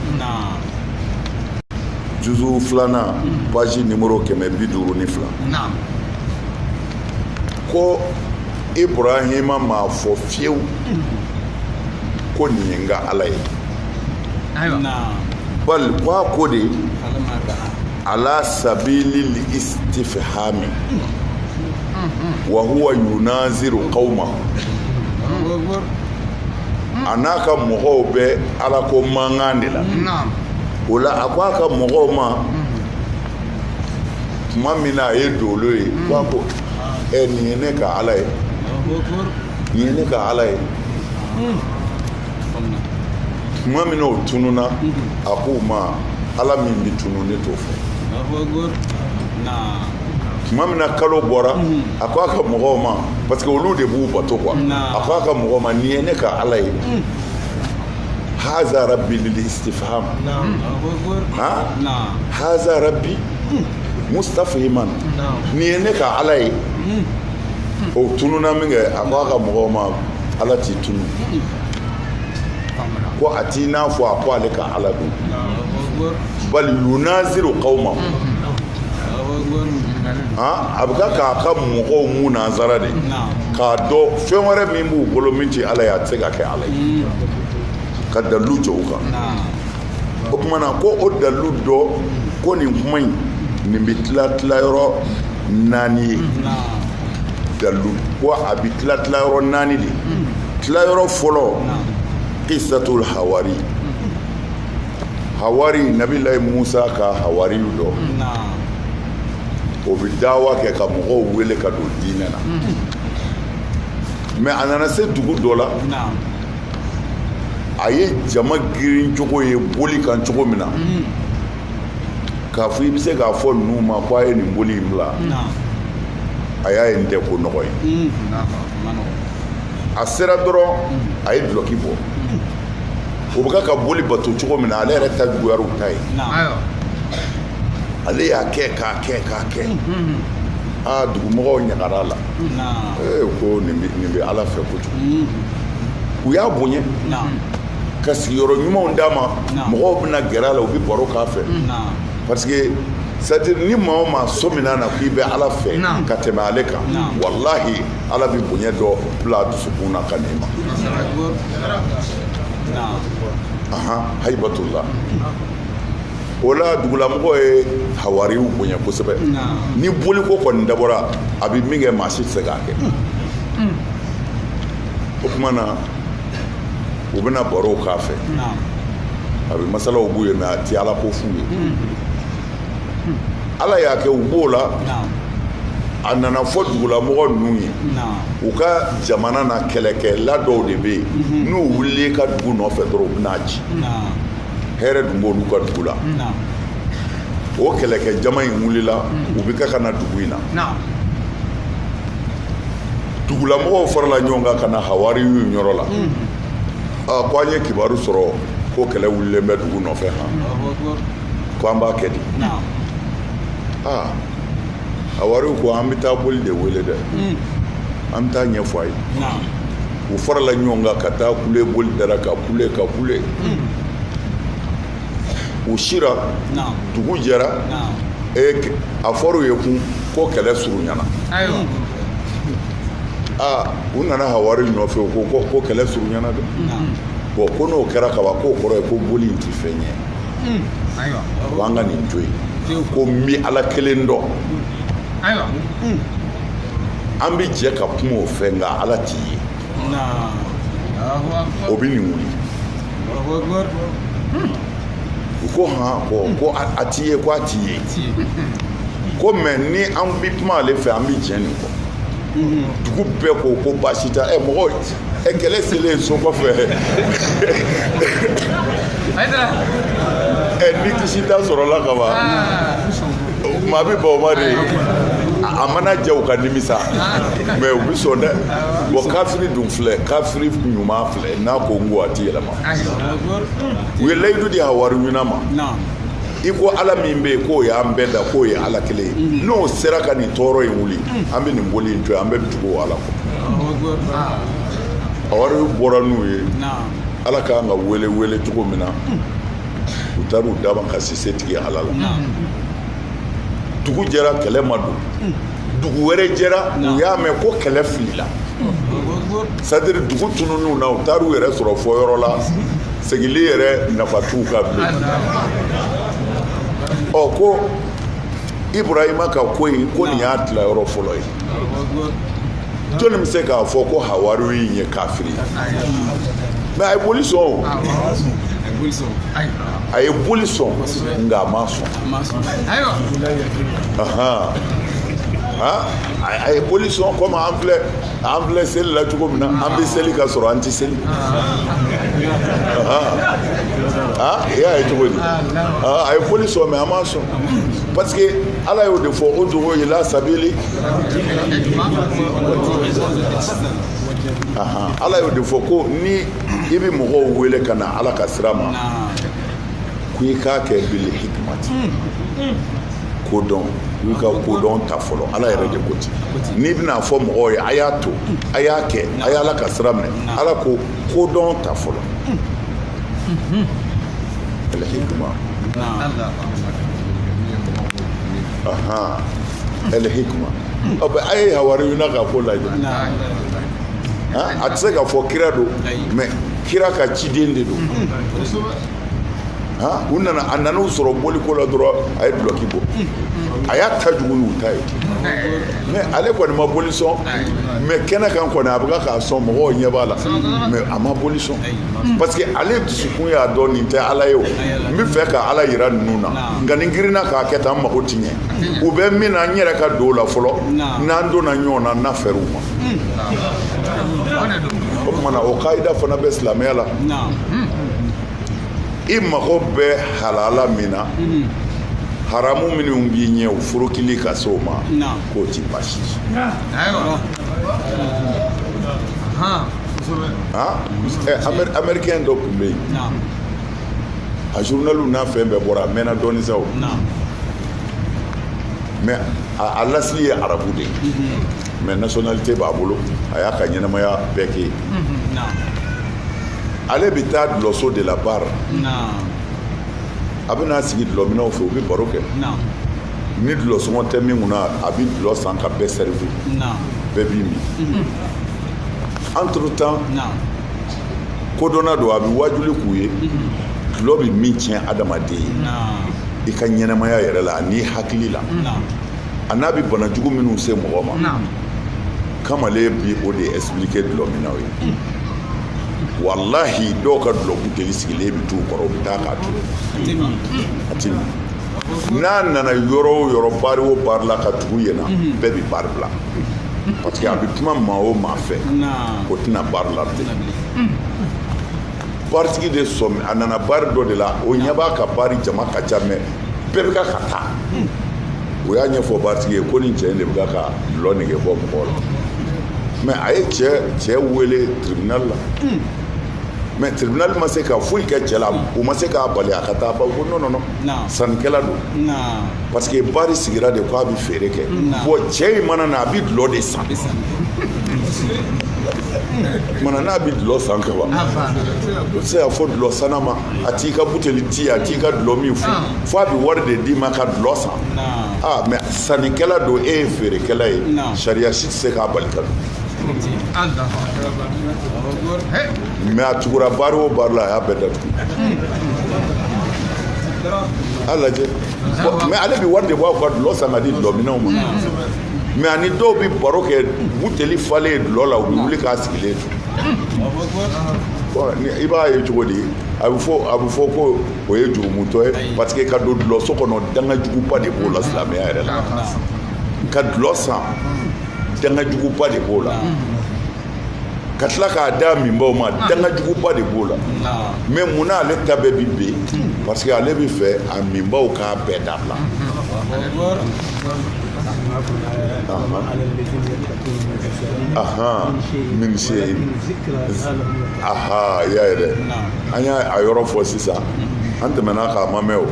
juzu filanan page numéro kɛmɛ bi duuru ni fila ko ibrahima m'a fɔ fiyewu ko nin ye n ka ala ye bal ko a ko de ala sabilil istifhami wa huwa yunaziru qawma a n'a ka mɔgɔw bɛ ala ko mankan de la o la a ko a ka mɔgɔw ma tuma min na a ye dolo ye ko a ko ɛ nin ye ne ka ala ye nin ye ne ka ala ye tuma min na o tununa a k'u ma ala min bɛ tunu ne t'o fɛ tuma min na kalo bɔra a ko a ka mɔgɔw ma parce que olu de b'u bato quoi a ko a ka mɔgɔw ma nin ye ne ka ala ye haza rabbi lil istifham haza rabbi mustafhiman nin ye ne ka ala ye o tununa minkɛ a ko a ka mɔgɔw ma ala tɛ tunu ko a t'i n'a fɔ a ko ale ka ala don bali yunaziru qawma a bɛ ka k'a ka mɔgɔw munazara de k'a dɔn fɛn wɛrɛ min b'u bolo min tɛ ala ye a tɛ se ka kɛ ala ye ka dalilu jɔ u kan o tuma na ko o dalilu dɔ ko nin kuma in nin bɛ tila tila yɔrɔ naani ye dalilu ko a bɛ tila tila yɔrɔ naani de tila yɔrɔ fɔlɔ kisatul hawari hawari nabilayi musa ka hawari dɔ o bɛ dawa kɛ ka mɔgɔw wele ka don diinɛ na mais a nana se dugu dɔ la a ye jama girin cogo ye boli kan cogo min na k'a fɔ i bɛ se k'a fɔ ninnu ma ko a ye nin boli in bila a y'a ye nin tɛ ko nɔgɔ ye a sera dɔrɔn a ye dulɔki bɔ u bɛ ka boli bato cogo min na ale yɛrɛ ta juguyara u ta ye ale y'a kɛ k'a kɛ k'a kɛ aa dugumɔgɔw ɲagara a la ko nin bɛ ala fɛ kojugu u y'a bonya ka sigiyɔrɔ ɲumanw d'a ma mɔgɔw bɛna gɛrɛ a la u bɛ baro k'a fɛ parce que c'est-à-dire ni maa o maa sɔmina k'i bɛ ala fɛ ka tɛmɛ ale kan walahi ala bɛ bonya dɔ bila a dusukun na ka n'i ma hayibatullah o la dugulamɔgɔ ye hawari bonya kosɛbɛ ni boli ko kɔni dabɔra a bɛ min kɛ maa si tɛ se k'a kɛ o tuma na u bɛna baro k'a fɛ a bɛ masalaw b'u ye mais a tɛ ala ko f'u ye ala y'a kɛ u b'o la a nana fɔ dugulamɔgɔ ninnu ye u ka jamana na kɛlɛkɛla dɔw de bɛ yen mhm. n'u wulila ka dugu nɔfɛ dɔrɔn u bɛn'a ci hɛrɛ dun b'olu ka dugu la o kɛlɛkɛ jama in wulila mhm. u bɛ ka ka na dugu in na dugulamɔgɔw farala ɲɔgɔn kan ka na hawariyu yɔrɔ la aa ko an ye kibaru sɔrɔ ko kɛlɛ wulilen bɛ dugu nɔfɛ han ko an b'a kɛ di aa hawariyu ko an bɛ taa boli de wele dɛ an bɛ taa ɲɛfɔ a ye u farala ɲɔgɔn kan ka taa kule boli da ra ka kule ka kule u sira dugu jɛra a fɔra u ye kun ko kɛlɛ surunyana aa u nana hawari nɔfɛ u ko ko kɛlɛ surunyana dɛ bon ko n'o kɛra kaban k'o kɔrɔ ye ko boli in tɛ fɛn ye ko an ka nin to yen ko n bɛ ala kelen dɔn an bɛ jɛ ka kuma o fɛ nka ala tɛ ye o bɛ nin wuli u ko hɔn bɔn ko a t'i ye ko a t'i ye ko mais ni an bɛ kuma ale fɛ an bɛ jɛ nin kɔ dugu bɛɛ ko ko baasi t'a ɛ mɔgɔ ɛ kɛlɛ selen so kɔfɛ ɛ ni kisi da sɔrɔla ka ban maa bɛ ban o ma de a mana jɛ u ka nimisa mais u bɛ sɔn dɛ bon kafiri dun filɛ kafiri ɲuman filɛ n'a ko n ko a ti yɛlɛma u ye layidu di hawariyuna ma i ko ala min bɛ yen k'o y'an bɛɛ da k'o ye ala kelen ye mm. n'o sera ka nin tɔɔrɔ in wuli mm. an bɛ nin boli in to yen an bɛɛ bɛ tugu ala kɔ hawariyu bɔra n'u ye ala k'an ka wele wele cogo min na mm. u taara u daba ka sise tigɛ ala la dugu jɛra kɛlɛ ma don dugu wɛrɛ jɛra u y'a mɛn ko kɛlɛ filila c'est-à-dire dugu tununna u taara u yɛrɛ sɔrɔ fɔ yɔrɔ la segili yɛrɛ nafa t'u kan bilen ɔ ko ibrahima ka ko in ko nin y'a tilayɔrɔ fɔlɔ ye jɔnni bɛ se k'a fɔ ko hawariyu in ye kafiri ye mais a ye boli sɔn o a ye boli sɔn nka a ma sɔn a ye boli sɔn kɔmi an filɛ an filɛ seli la cogo min na an bɛ seli ka sɔrɔ an tɛ seli e y'a ye cogo di a ye boli sɔn mais a ma sɔn parce que ala y'o de fɔ udu'u ila sabili ala y'o de fɔ ko ni i bɛ mɔgɔw wele ka na ala ka sira ma ko i k'a kɛ bil hikmati kodɔn k'i ka kodɔn ta fɔlɔ ala yɛrɛ de ko ten n'i bɛn'a fɔ mɔgɔw ye a y'a to a y'a kɛ a y'ala ka sira minɛ ala ko kodɔn ta fɔlɔ Bil hikma. Aha. Bil hikma. Ɔ bɛ a ye hawariyuna ka ko lajɛ. A tɛ se ka fɔ kira don mais kira ka ciden de don. U nana a nan'u sɔrɔ boliko la dɔrɔn a ye dulɔki bɔ a y'a ta jugu n'u ta ye mais ale kɔni ma boli sɔn mais kɛnɛ kan kɔni a bɛ k'a sɔn mɔgɔw ɲɛ b'a la mais a ma boli sɔn parce que ale dusukun y'a dɔn nin tɛ ala ye o n bɛ fɛ ka ala yira ninnu na nka ni n girinna k'a kɛ tan n mago ti ɲɛ u bɛ min na n yɛrɛ ka don o la fɔlɔ n'an donna ɲɔgɔn na n'a fɛrɛ u ma o tuma na o kayida fana bɛ silamɛya la i mago bɛ halala min na haramu minnu b'i ɲɛ o forokili ka se o ma k'o ti basi américain dɔ tun bɛ yen a journaliw n'a fɛn bɛɛ bɔra a mɛnna dɔɔnin sa o mais a lasili ye arabu de ye mhm. mais nationalité b'a bolo a y'a ka ɲɛnamaya bɛɛ kɛ yen mhm. ale bɛ taa dulɔso de la baari a bɛ n'a sigi dulɔminnaw fɛ u bɛ baro kɛ ni dulɔsɔngɔ tɛ min kunna a bɛ dulɔ san ka bɛɛ sɛrivi bɛɛ b'i min mhm. entre-temps kodɔnna don a bɛ wajuli k'u ye dulɔ bɛ min tiɲɛ adamaden ye i ka ɲɛnamaya yɛrɛ la ani hakili la a n'a bɛ banajugu minnu se mɔgɔ ma kamalen bi o de expliquer dulɔminnaw ye walahi dɔw ka dulɔbuteli sigilen bɛ t'u kɔrɔ u bɛ taa k'a to a tɛ n'a nana yɔrɔ o yɔrɔ baari o baari la ka tugu yen na mhm. bɛɛ bɛ baari bila parce que a bɛ kuma maa o maa fɛ o tɛ na baari la bilen baritigi de sɔmi a nana baari dɔ de la o ɲɛ b'a ka baari jama ka ca mais bɛɛ bɛ ka ka taa o y'a ɲɛfɔ baritigi ye ko nin cɛ in de bɛ ka dulɔ nege bɔ mɔgɔw la mais a ye cɛ wele tribunal la mais tribunal ma se ka foyi kɛ cɛ la o ma se k'a bali a ka taa bar ko non non non sannikɛla don parce que baari sigira de ko a bɛ feere kɛ bon cɛ in mana na a bɛ dulɔ de san mana na a bɛ dulɔ san kɛ wa o tɛ se k'a fɔ dulɔ sanna ma a t'i ka buteli ti a t'i ka dulɔ min fo fo a bɛ wari de d'i ma ka dulɔ san aa mais sannikɛla don e ye feerekɛla ye sariya si tɛ se k'a bali ka don mais a tugura baari o baari la a y'a bɛɛ datugu a lajɛ mais ale bɛ wari de bɔ a ka dulɔ san ka di dulɔminnaw ma mais a ni dɔw bɛ baro kɛ buteli falen dulɔ la u bɛ wuli k'a sigilen to i b'a ye cogo di a bɛ fɔ a bɛ fɔ ko o ye jurumutɔ ye parce que ka don dulɔso kɔnɔ danga juguba de b'o la silamɛya yɛrɛ la ka dulɔ san danga juguba de b'o la ka tila k'a da minbaw ma ah. dangajuguba de b'o la ah. mais mun na ale ta bɛɛ bi ben hmm. parce que ale bi fɛ a minbaw k'a bɛɛ dabila aha min se aha y'a ye dɛ an y'a a yɔrɔ fɔ sisan an tɛmɛna k'a ma mɛn o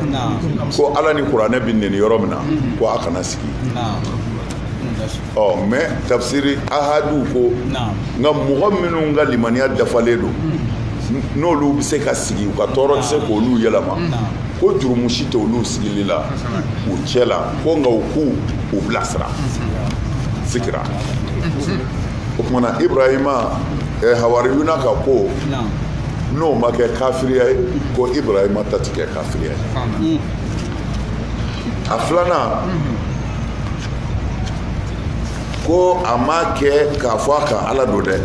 ko ala ni kuranɛ bi neni yɔrɔ min na hmm. ko a kana sigi hmm. ɔ mais tafsiri ahadu ko nka mɔgɔ minnu ka limaniya dafalen don n'olu bɛ se ka sigi u ka tɔɔrɔ tɛ se k'olu yɛlɛma ko jurumu si tɛ olu sigili la u cɛ la ko nka u k'u u bilasira sigira o tuma na ibrahima eh, hawariyuna ka ko n'o ma kɛ kafiriya ye ko ibrahima ta ti kɛ kafiriya ye a filanan ko a ma kɛ k'a fɔ a ka ala don dɛ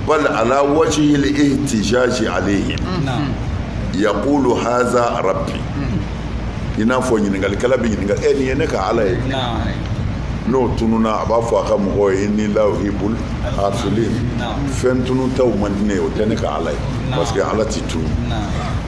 bal ala wajhi ihtijaji alayhim yaqulu haza rabbi i n'a fɔ ɲininkalikɛla bɛ ɲininka e nin ye ne ka ala ye n'o tununa a b'a fɔ a ka mɔgɔw ye inni la uhibbul afilin fɛn tunutaw man di ne ye o tɛ ne ka ala ye parce que ala ti tunu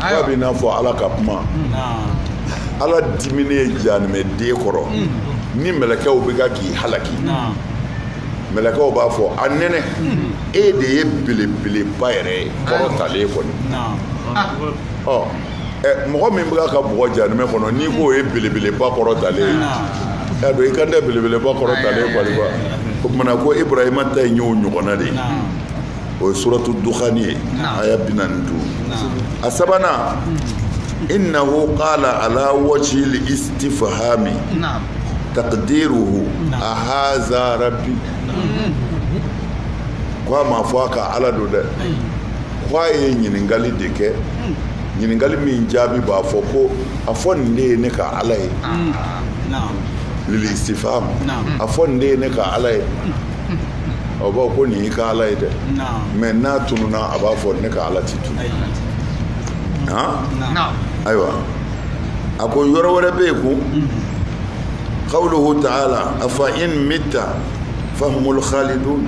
k'a bɛ n'a fɔ ala ka kuma ala diminen janimɛ den kɔrɔ mm. ni mɛlɛkɛw bɛ ka k'i halaki mɛlɛkɛw b'a fɔ a nɛnɛ mm. e de ye belebeleba yɛrɛ kɔrɔtalen kɔni ah. ɔ mɔgɔ min bɛ ka bugɔ janimɛ kɔnɔ n'i k'o ye belebeleba kɔrɔtalen ye y'a dɔn i kan tɛ belebeleba kɔrɔtalen kɔni ma o tuma na ko ibrahima ta in y'o ɲɔgɔnna de ye o ye suratu dukhani ye aya bi naani duuru a sabanan innahu qala ala wajhi istifhami taqdiruhu a haza rabbi ko a m'a fɔ a ka ala don dɛ ko a ye ɲininkali de kɛ ɲininkali min jaabi b'a fɔ ko a fɔ nin de ye ne ka ala ye lil istifham a fɔ nin de ye ne ka ala ye aw b'a ko nin y'i ka ala ye dɛ mais n'a tununna a b'a fɔ ne ka ala ti tunu ayiwa a ko yɔrɔ wɛrɛ bɛ yen ko qawluhu ta'ala a fa in mita fahumul khalidun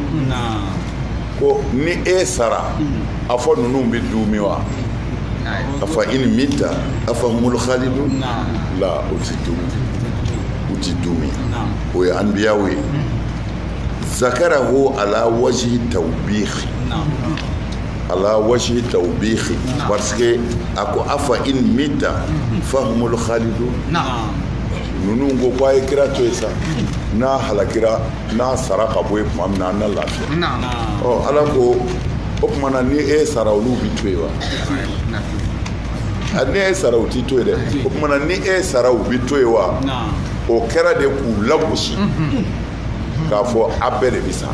ko ni e sara a fɔ ninnu bɛ dumi wa a fa in mita a fahumul khalidun la o tɛ du u tɛ dumi o ye anbiyaw ye zakarahu ala wajhi tawbih ala wajhi tawbih parce que a ko afa in mitta fahumul khalidun ninnu ko ko a ye kira to ye sa n'a halakira n'a sara ka bɔ ye tuma min na an na lafiya ɔ ala ko o tuma na ni e sara olu bi to ye wa ni e sara u ti to ye dɛ o tuma na ni e sara u bi to ye wa o kɛra de k'u lagosi k'a fɔ a bɛɛ de bɛ sa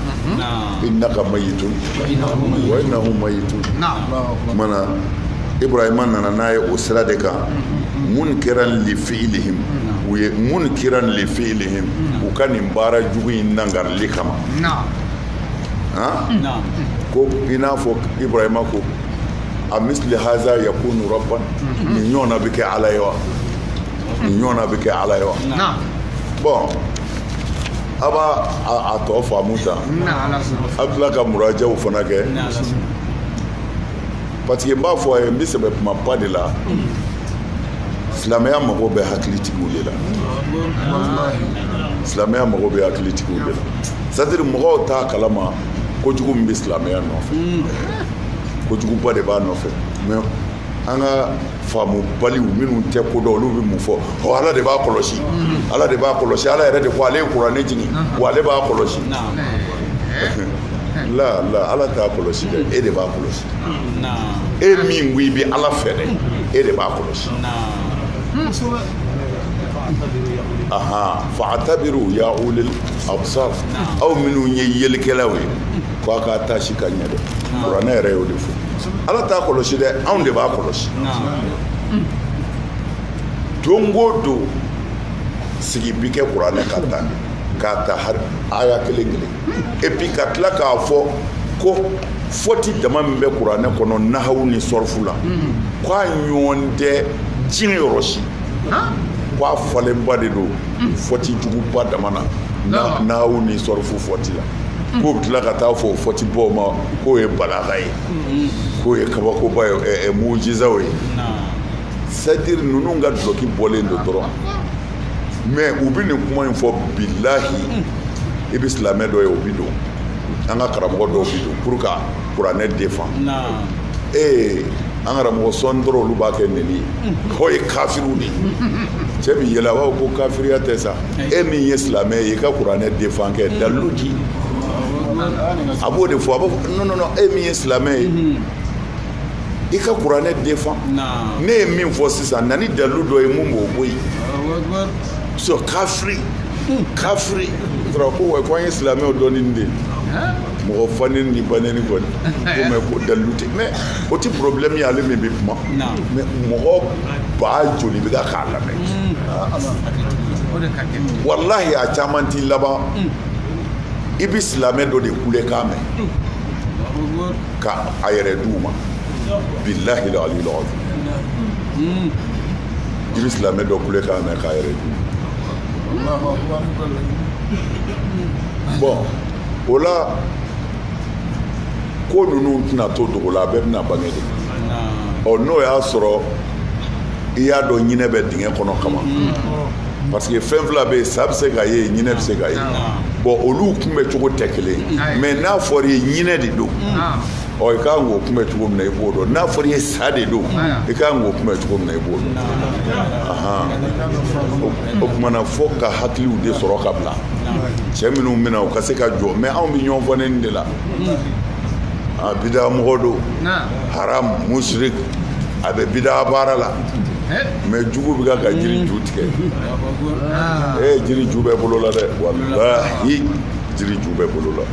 innaka mayitun wa innahum mayitun mana ibrahima nana n'a ye o sira de kan munkiran li fi'lihim u ye munkiran li fi'lihim u ka nin baara jugu in nangarili kama ko i n'a fɔ ibrahima ko a misili haza yakunu rabban nin ɲɔgɔnna bɛ kɛ ala ye wa ɲɔgɔn na bɛ kɛ ala ye wa bon a b'a tɔ faamu ta a bɛ tila ka murajaw fana kɛ parce que n b'a fɔ a ye n bɛ sɛbɛ kumaba de la silamɛya mago bɛ hakilitigiw de la silamɛya mago bɛ hakilitigiw de la c'est-à-dire mɔgɔw t'a kalama kojugu min bɛ silamɛya nɔfɛ kojuguba de b'a nɔfɛ mais an ka faamubaliw minnu tɛ ko dɔn olu bɛ mun fɔ ɔ ala de b'a kɔlɔsi ala de b'a kɔlɔsi ala yɛrɛ de ko ale ye kuranɛ jigin wa ale b'a kɔlɔsi la la ala t'a kɔlɔsi dɛ e de b'a kɔlɔsi e min ko i bɛ ala fɛ dɛ e de b'a kɔlɔsi aha fa'tabiru ya ulil absar aw minnu ye yelikɛlaw ye ko a ka taasi ka ɲɛ dɛ kuranɛ yɛrɛ y'o de fɔ ala t'a kɔlɔsi dɛ anw de b'a kɔlɔsi don o don sigi bi kɛ kuranɛ kan ta k'a ta aya kelen kelen et puis ka tila k'a fɔ ko fɔti dama min bɛ kuranɛ kɔnɔ nahawu ni sɔrɔfu la k'a ɲɔgɔn tɛ diɲɛ yɔrɔ si k'a falenba de don fɔti juguba dama na nahawu ni sɔrɔfu fɔti la k'u bɛ tila ka taa fɔ o fɔtibaw ma k'o ye balaga ye k'o ye kabakoba ye mujizaw ye c'est-à-dire ninnu ka dulɔki bɔlen don dɔrɔn mais u bɛ nin kuma in fɔ bilahi i bɛ silamɛ dɔ ye o bɛ don an ka karamɔgɔ dɔw bɛ don pour ka kuranɛ défend ee an karamɔgɔ sɔɔni dɔrɔn olu b'a kɛ neni ye k'o ye kafiriw de ye cɛ bɛ yɛlɛ a b'a fɔ ko kafiriya tɛ sa e min ye silamɛ ye i ka kuranɛ défend kɛ dalilu di a b'o de fɔ a b'a fɔ non non non e min ye silamɛ ye i ka kuranɛ défend ne ye min fɔ sisan na ni dalilu dɔ ye mun b'o bɔ yen so kafiri kafiri ko wa ko an ye silamɛw dɔɔnin de mɔgɔ fanen ni baneni kɔni ko mɛ ko dalilu tɛ mais o tɛ problème ye ale min bɛ kuma mais mɔgɔ ba joli bɛ ka k'a lamɛn walahi a caman t'i laban i bɛ silamɛ dɔ de kulekan mɛn ka a yɛrɛ d'u ma bilahi la ali lɔgɔ i bɛ silamɛ dɔ kulekan mɛn k'a yɛrɛ d'u ma bon o la ko ninnu tɛna to dogo la a bɛɛ bɛna bange de ɔ n'o y'a sɔrɔ i y'a dɔn ɲinɛ bɛ dingɛ kɔnɔ kama parce que fɛn fila bɛ yen sa bɛ se ka ye ɲinɛ bɛ se ka ye bon olu kunbɛ cogo tɛ kelen mais n'a fɔra i ye ɲinɛ de don ɔ i ka kan k'o kunbɛ cogo min na i b'o dɔn n'a fɔra i ye sa de don i ka kan k'o kunbɛ cogo min na i b'o dɔn o kuma na fo ka hakiliw de sɔrɔ ka bila cɛ minnu bɛna u ka se ka jɔ mais anw bɛ ɲɔgɔn fɔ nin de la a bida mɔgɔ don haram musirik a bɛ bida baara la mais jugu bɛ ka ka jiri ju tigɛ e jiri ju bɛ bolo la dɛ walahi jiri ju bɛ bolo la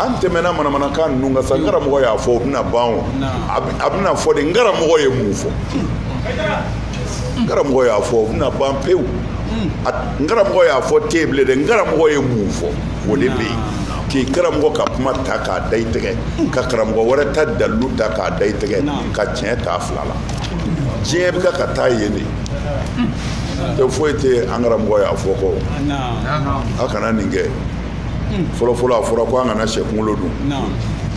an tɛmɛna manamanakan ninnu kan sa n karamɔgɔ y'a fɔ o bɛna ban o a bɛna fɔ de n karamɔgɔ ye mun fɔ n karamɔgɔ y'a fɔ o bɛna ban pewu n karamɔgɔ y'a fɔ tɛ bilen dɛ n karamɔgɔ ye mun fɔ o de bɛ yen k'i karamɔgɔ ka kuma ta k'a da i tɛgɛ ka karamɔgɔ wɛrɛ ta dalilu ta k'a da i tɛgɛ ka tiɲɛ t'a fila la diɲɛ bɛ ka taa yen de tɛ foyi tɛ an karamɔgɔ y'a fɔ ko a kana nin kɛ fɔlɔfɔlɔ a fɔra ko an kana sɛ kunkolo dun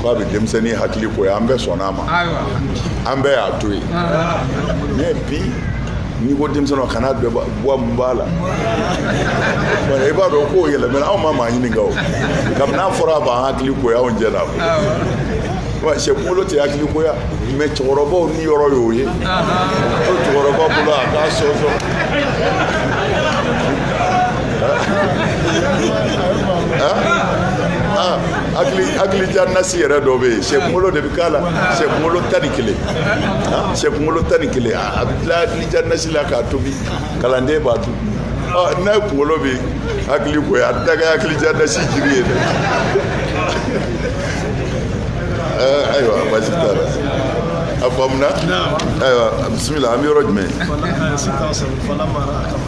ko a bɛ denmisɛnnin hakili goya an bɛɛ sɔnna a ma an bɛɛ y'a to yen mais bi n'i ko denmisɛnninw kana bɛɛ bɔ mun b'a la i b'a dɔn k'o yɛlɛmɛna anw ma maa ɲininka o kabini n'a fɔra a b'an hakili goya anw jɛnna wa sɛ kunkolo tɛ hakili goya mais cɛkɔrɔbaw niyɔrɔ y'o ye ko cɛkɔrɔba bolo a k'a sɔsɔ hakili diya nasi yɛrɛ dɔ bɛ yen sɛ kunkolo de bɛ k'a la sɛ kunkolo tan ni kelen sɛ kunkolo tan ni kelen a bɛ bila hakili diya nasi la k'a tobi kalanden b'a dun ni sɛ kunkolo bɛ hakili goya a tɛ kɛ hakili diya nasi jiri ye dɛ ayiwa baasi t'a la a faamuna ayiwa bisimila an bɛ yɔrɔ jumɛn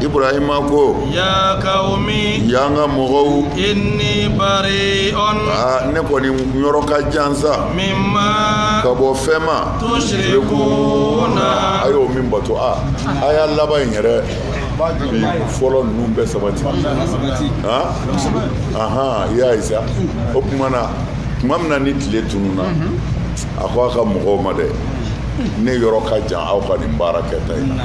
ibrahima ko ya kawumi ya n ka mɔgɔw inni bariun aa ne kɔni yɔrɔ ka jan sa mimma ka bɔ fɛn ma tusirikuna a y'o min bato a a y'a laban in yɛrɛ bi fɔlɔ ninnu bɛɛ sabati ahan i y'a ye sa o tuma na tuma min na ni tile tununna a ko a ka mɔgɔw ma dɛ ne yɔrɔ ka jan aw ka nin baara kɛta in na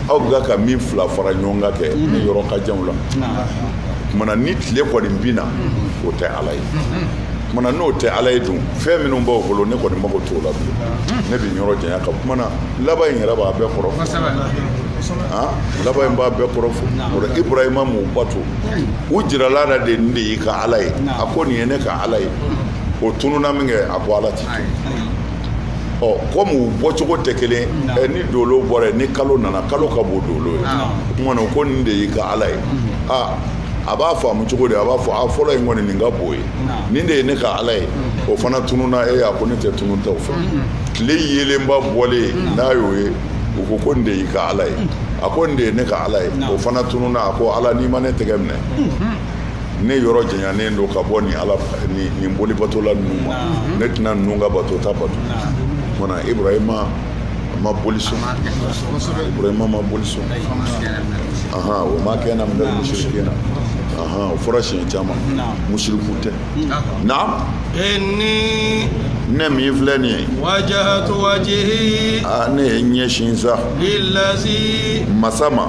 aw bɛ ka min fila fara ɲɔgɔn kan kɛ ne yɔrɔ ka jan o la kumana ni tile kɔni binna o tɛ ala ye kumana n'o tɛ ala ye dun fɛn minnu b'aw bolo ne kɔni mago t'o la bilen ne bɛ yɔrɔ janya ka kumana laban in yɛrɛ b'a bɛɛ kɔrɔ ah, laban in b'a bɛɛ kɔrɔ fɔ o la ibrahima m'u bato u jirala a la de nin de y'i ka ala ye a ko nin ye ne ka ala ye o tununna minkɛ a ko ala tɛ ɔ kɔmi u bɔcogo tɛ kelen ni dolo bɔra ni kalo nana kalo ka bon dolo ye tuma ko nin de y'i ka ala ye aa a b'a faamu cogo de a b'a fɔ a fɔlɔ in kɔni nin ka bon ye nin de ye ne ka ala ye o fana tununna e a ko ne tɛ tununta fɛ tile yeelenba bɔlen n'a y'o ye u ko ko nin de y'i ka ala ye a ko nin de ye ne ka ala ye o fana tununna a ko ala n'i ma ne tɛgɛ minɛ ne yɔrɔ janyanen don ka bɔ ni ala nin bolibatola ninnu ma ne tɛna ninnu ka batota bato mana ibrahima ma boli sɔn ibrahima ma boli sɔn aha wa ma kana minal musirikina aha o fɔra siɲɛ caman musiriku tɛ naam inni ne min filɛ nin ye wajahatu wajihi ne ye n ɲɛsin sa lilazi masa ma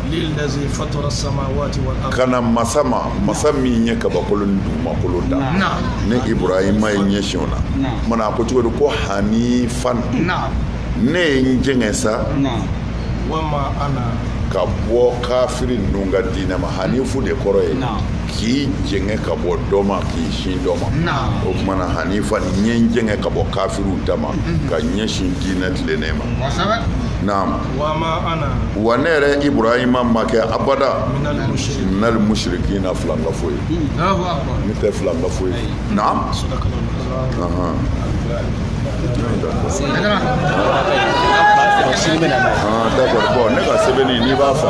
kana masa ma masa min ye kabakolo ni dugumakolo dan ne ibrahima ye n ɲɛsin o la kumana a ko cogo di ko hanifan ne ye n jɛngɛ sa ka bɔ kafiri ninnu ka diinɛ ma hanifu de kɔrɔ ye k'i jɛngɛ ka bɔ dɔ ma k'i sin dɔ ma o tuma na hanifan ne ye n jɛngɛ ka bɔ kafiriw ta ma ka ɲɛsin diinɛ tilennen ma naam wa ne yɛrɛ ibrahima ma kɛ abada minal musirikina filankafo ye ne tɛ filankafo ye bon ne ka sɛbɛn n'i b'a fɔ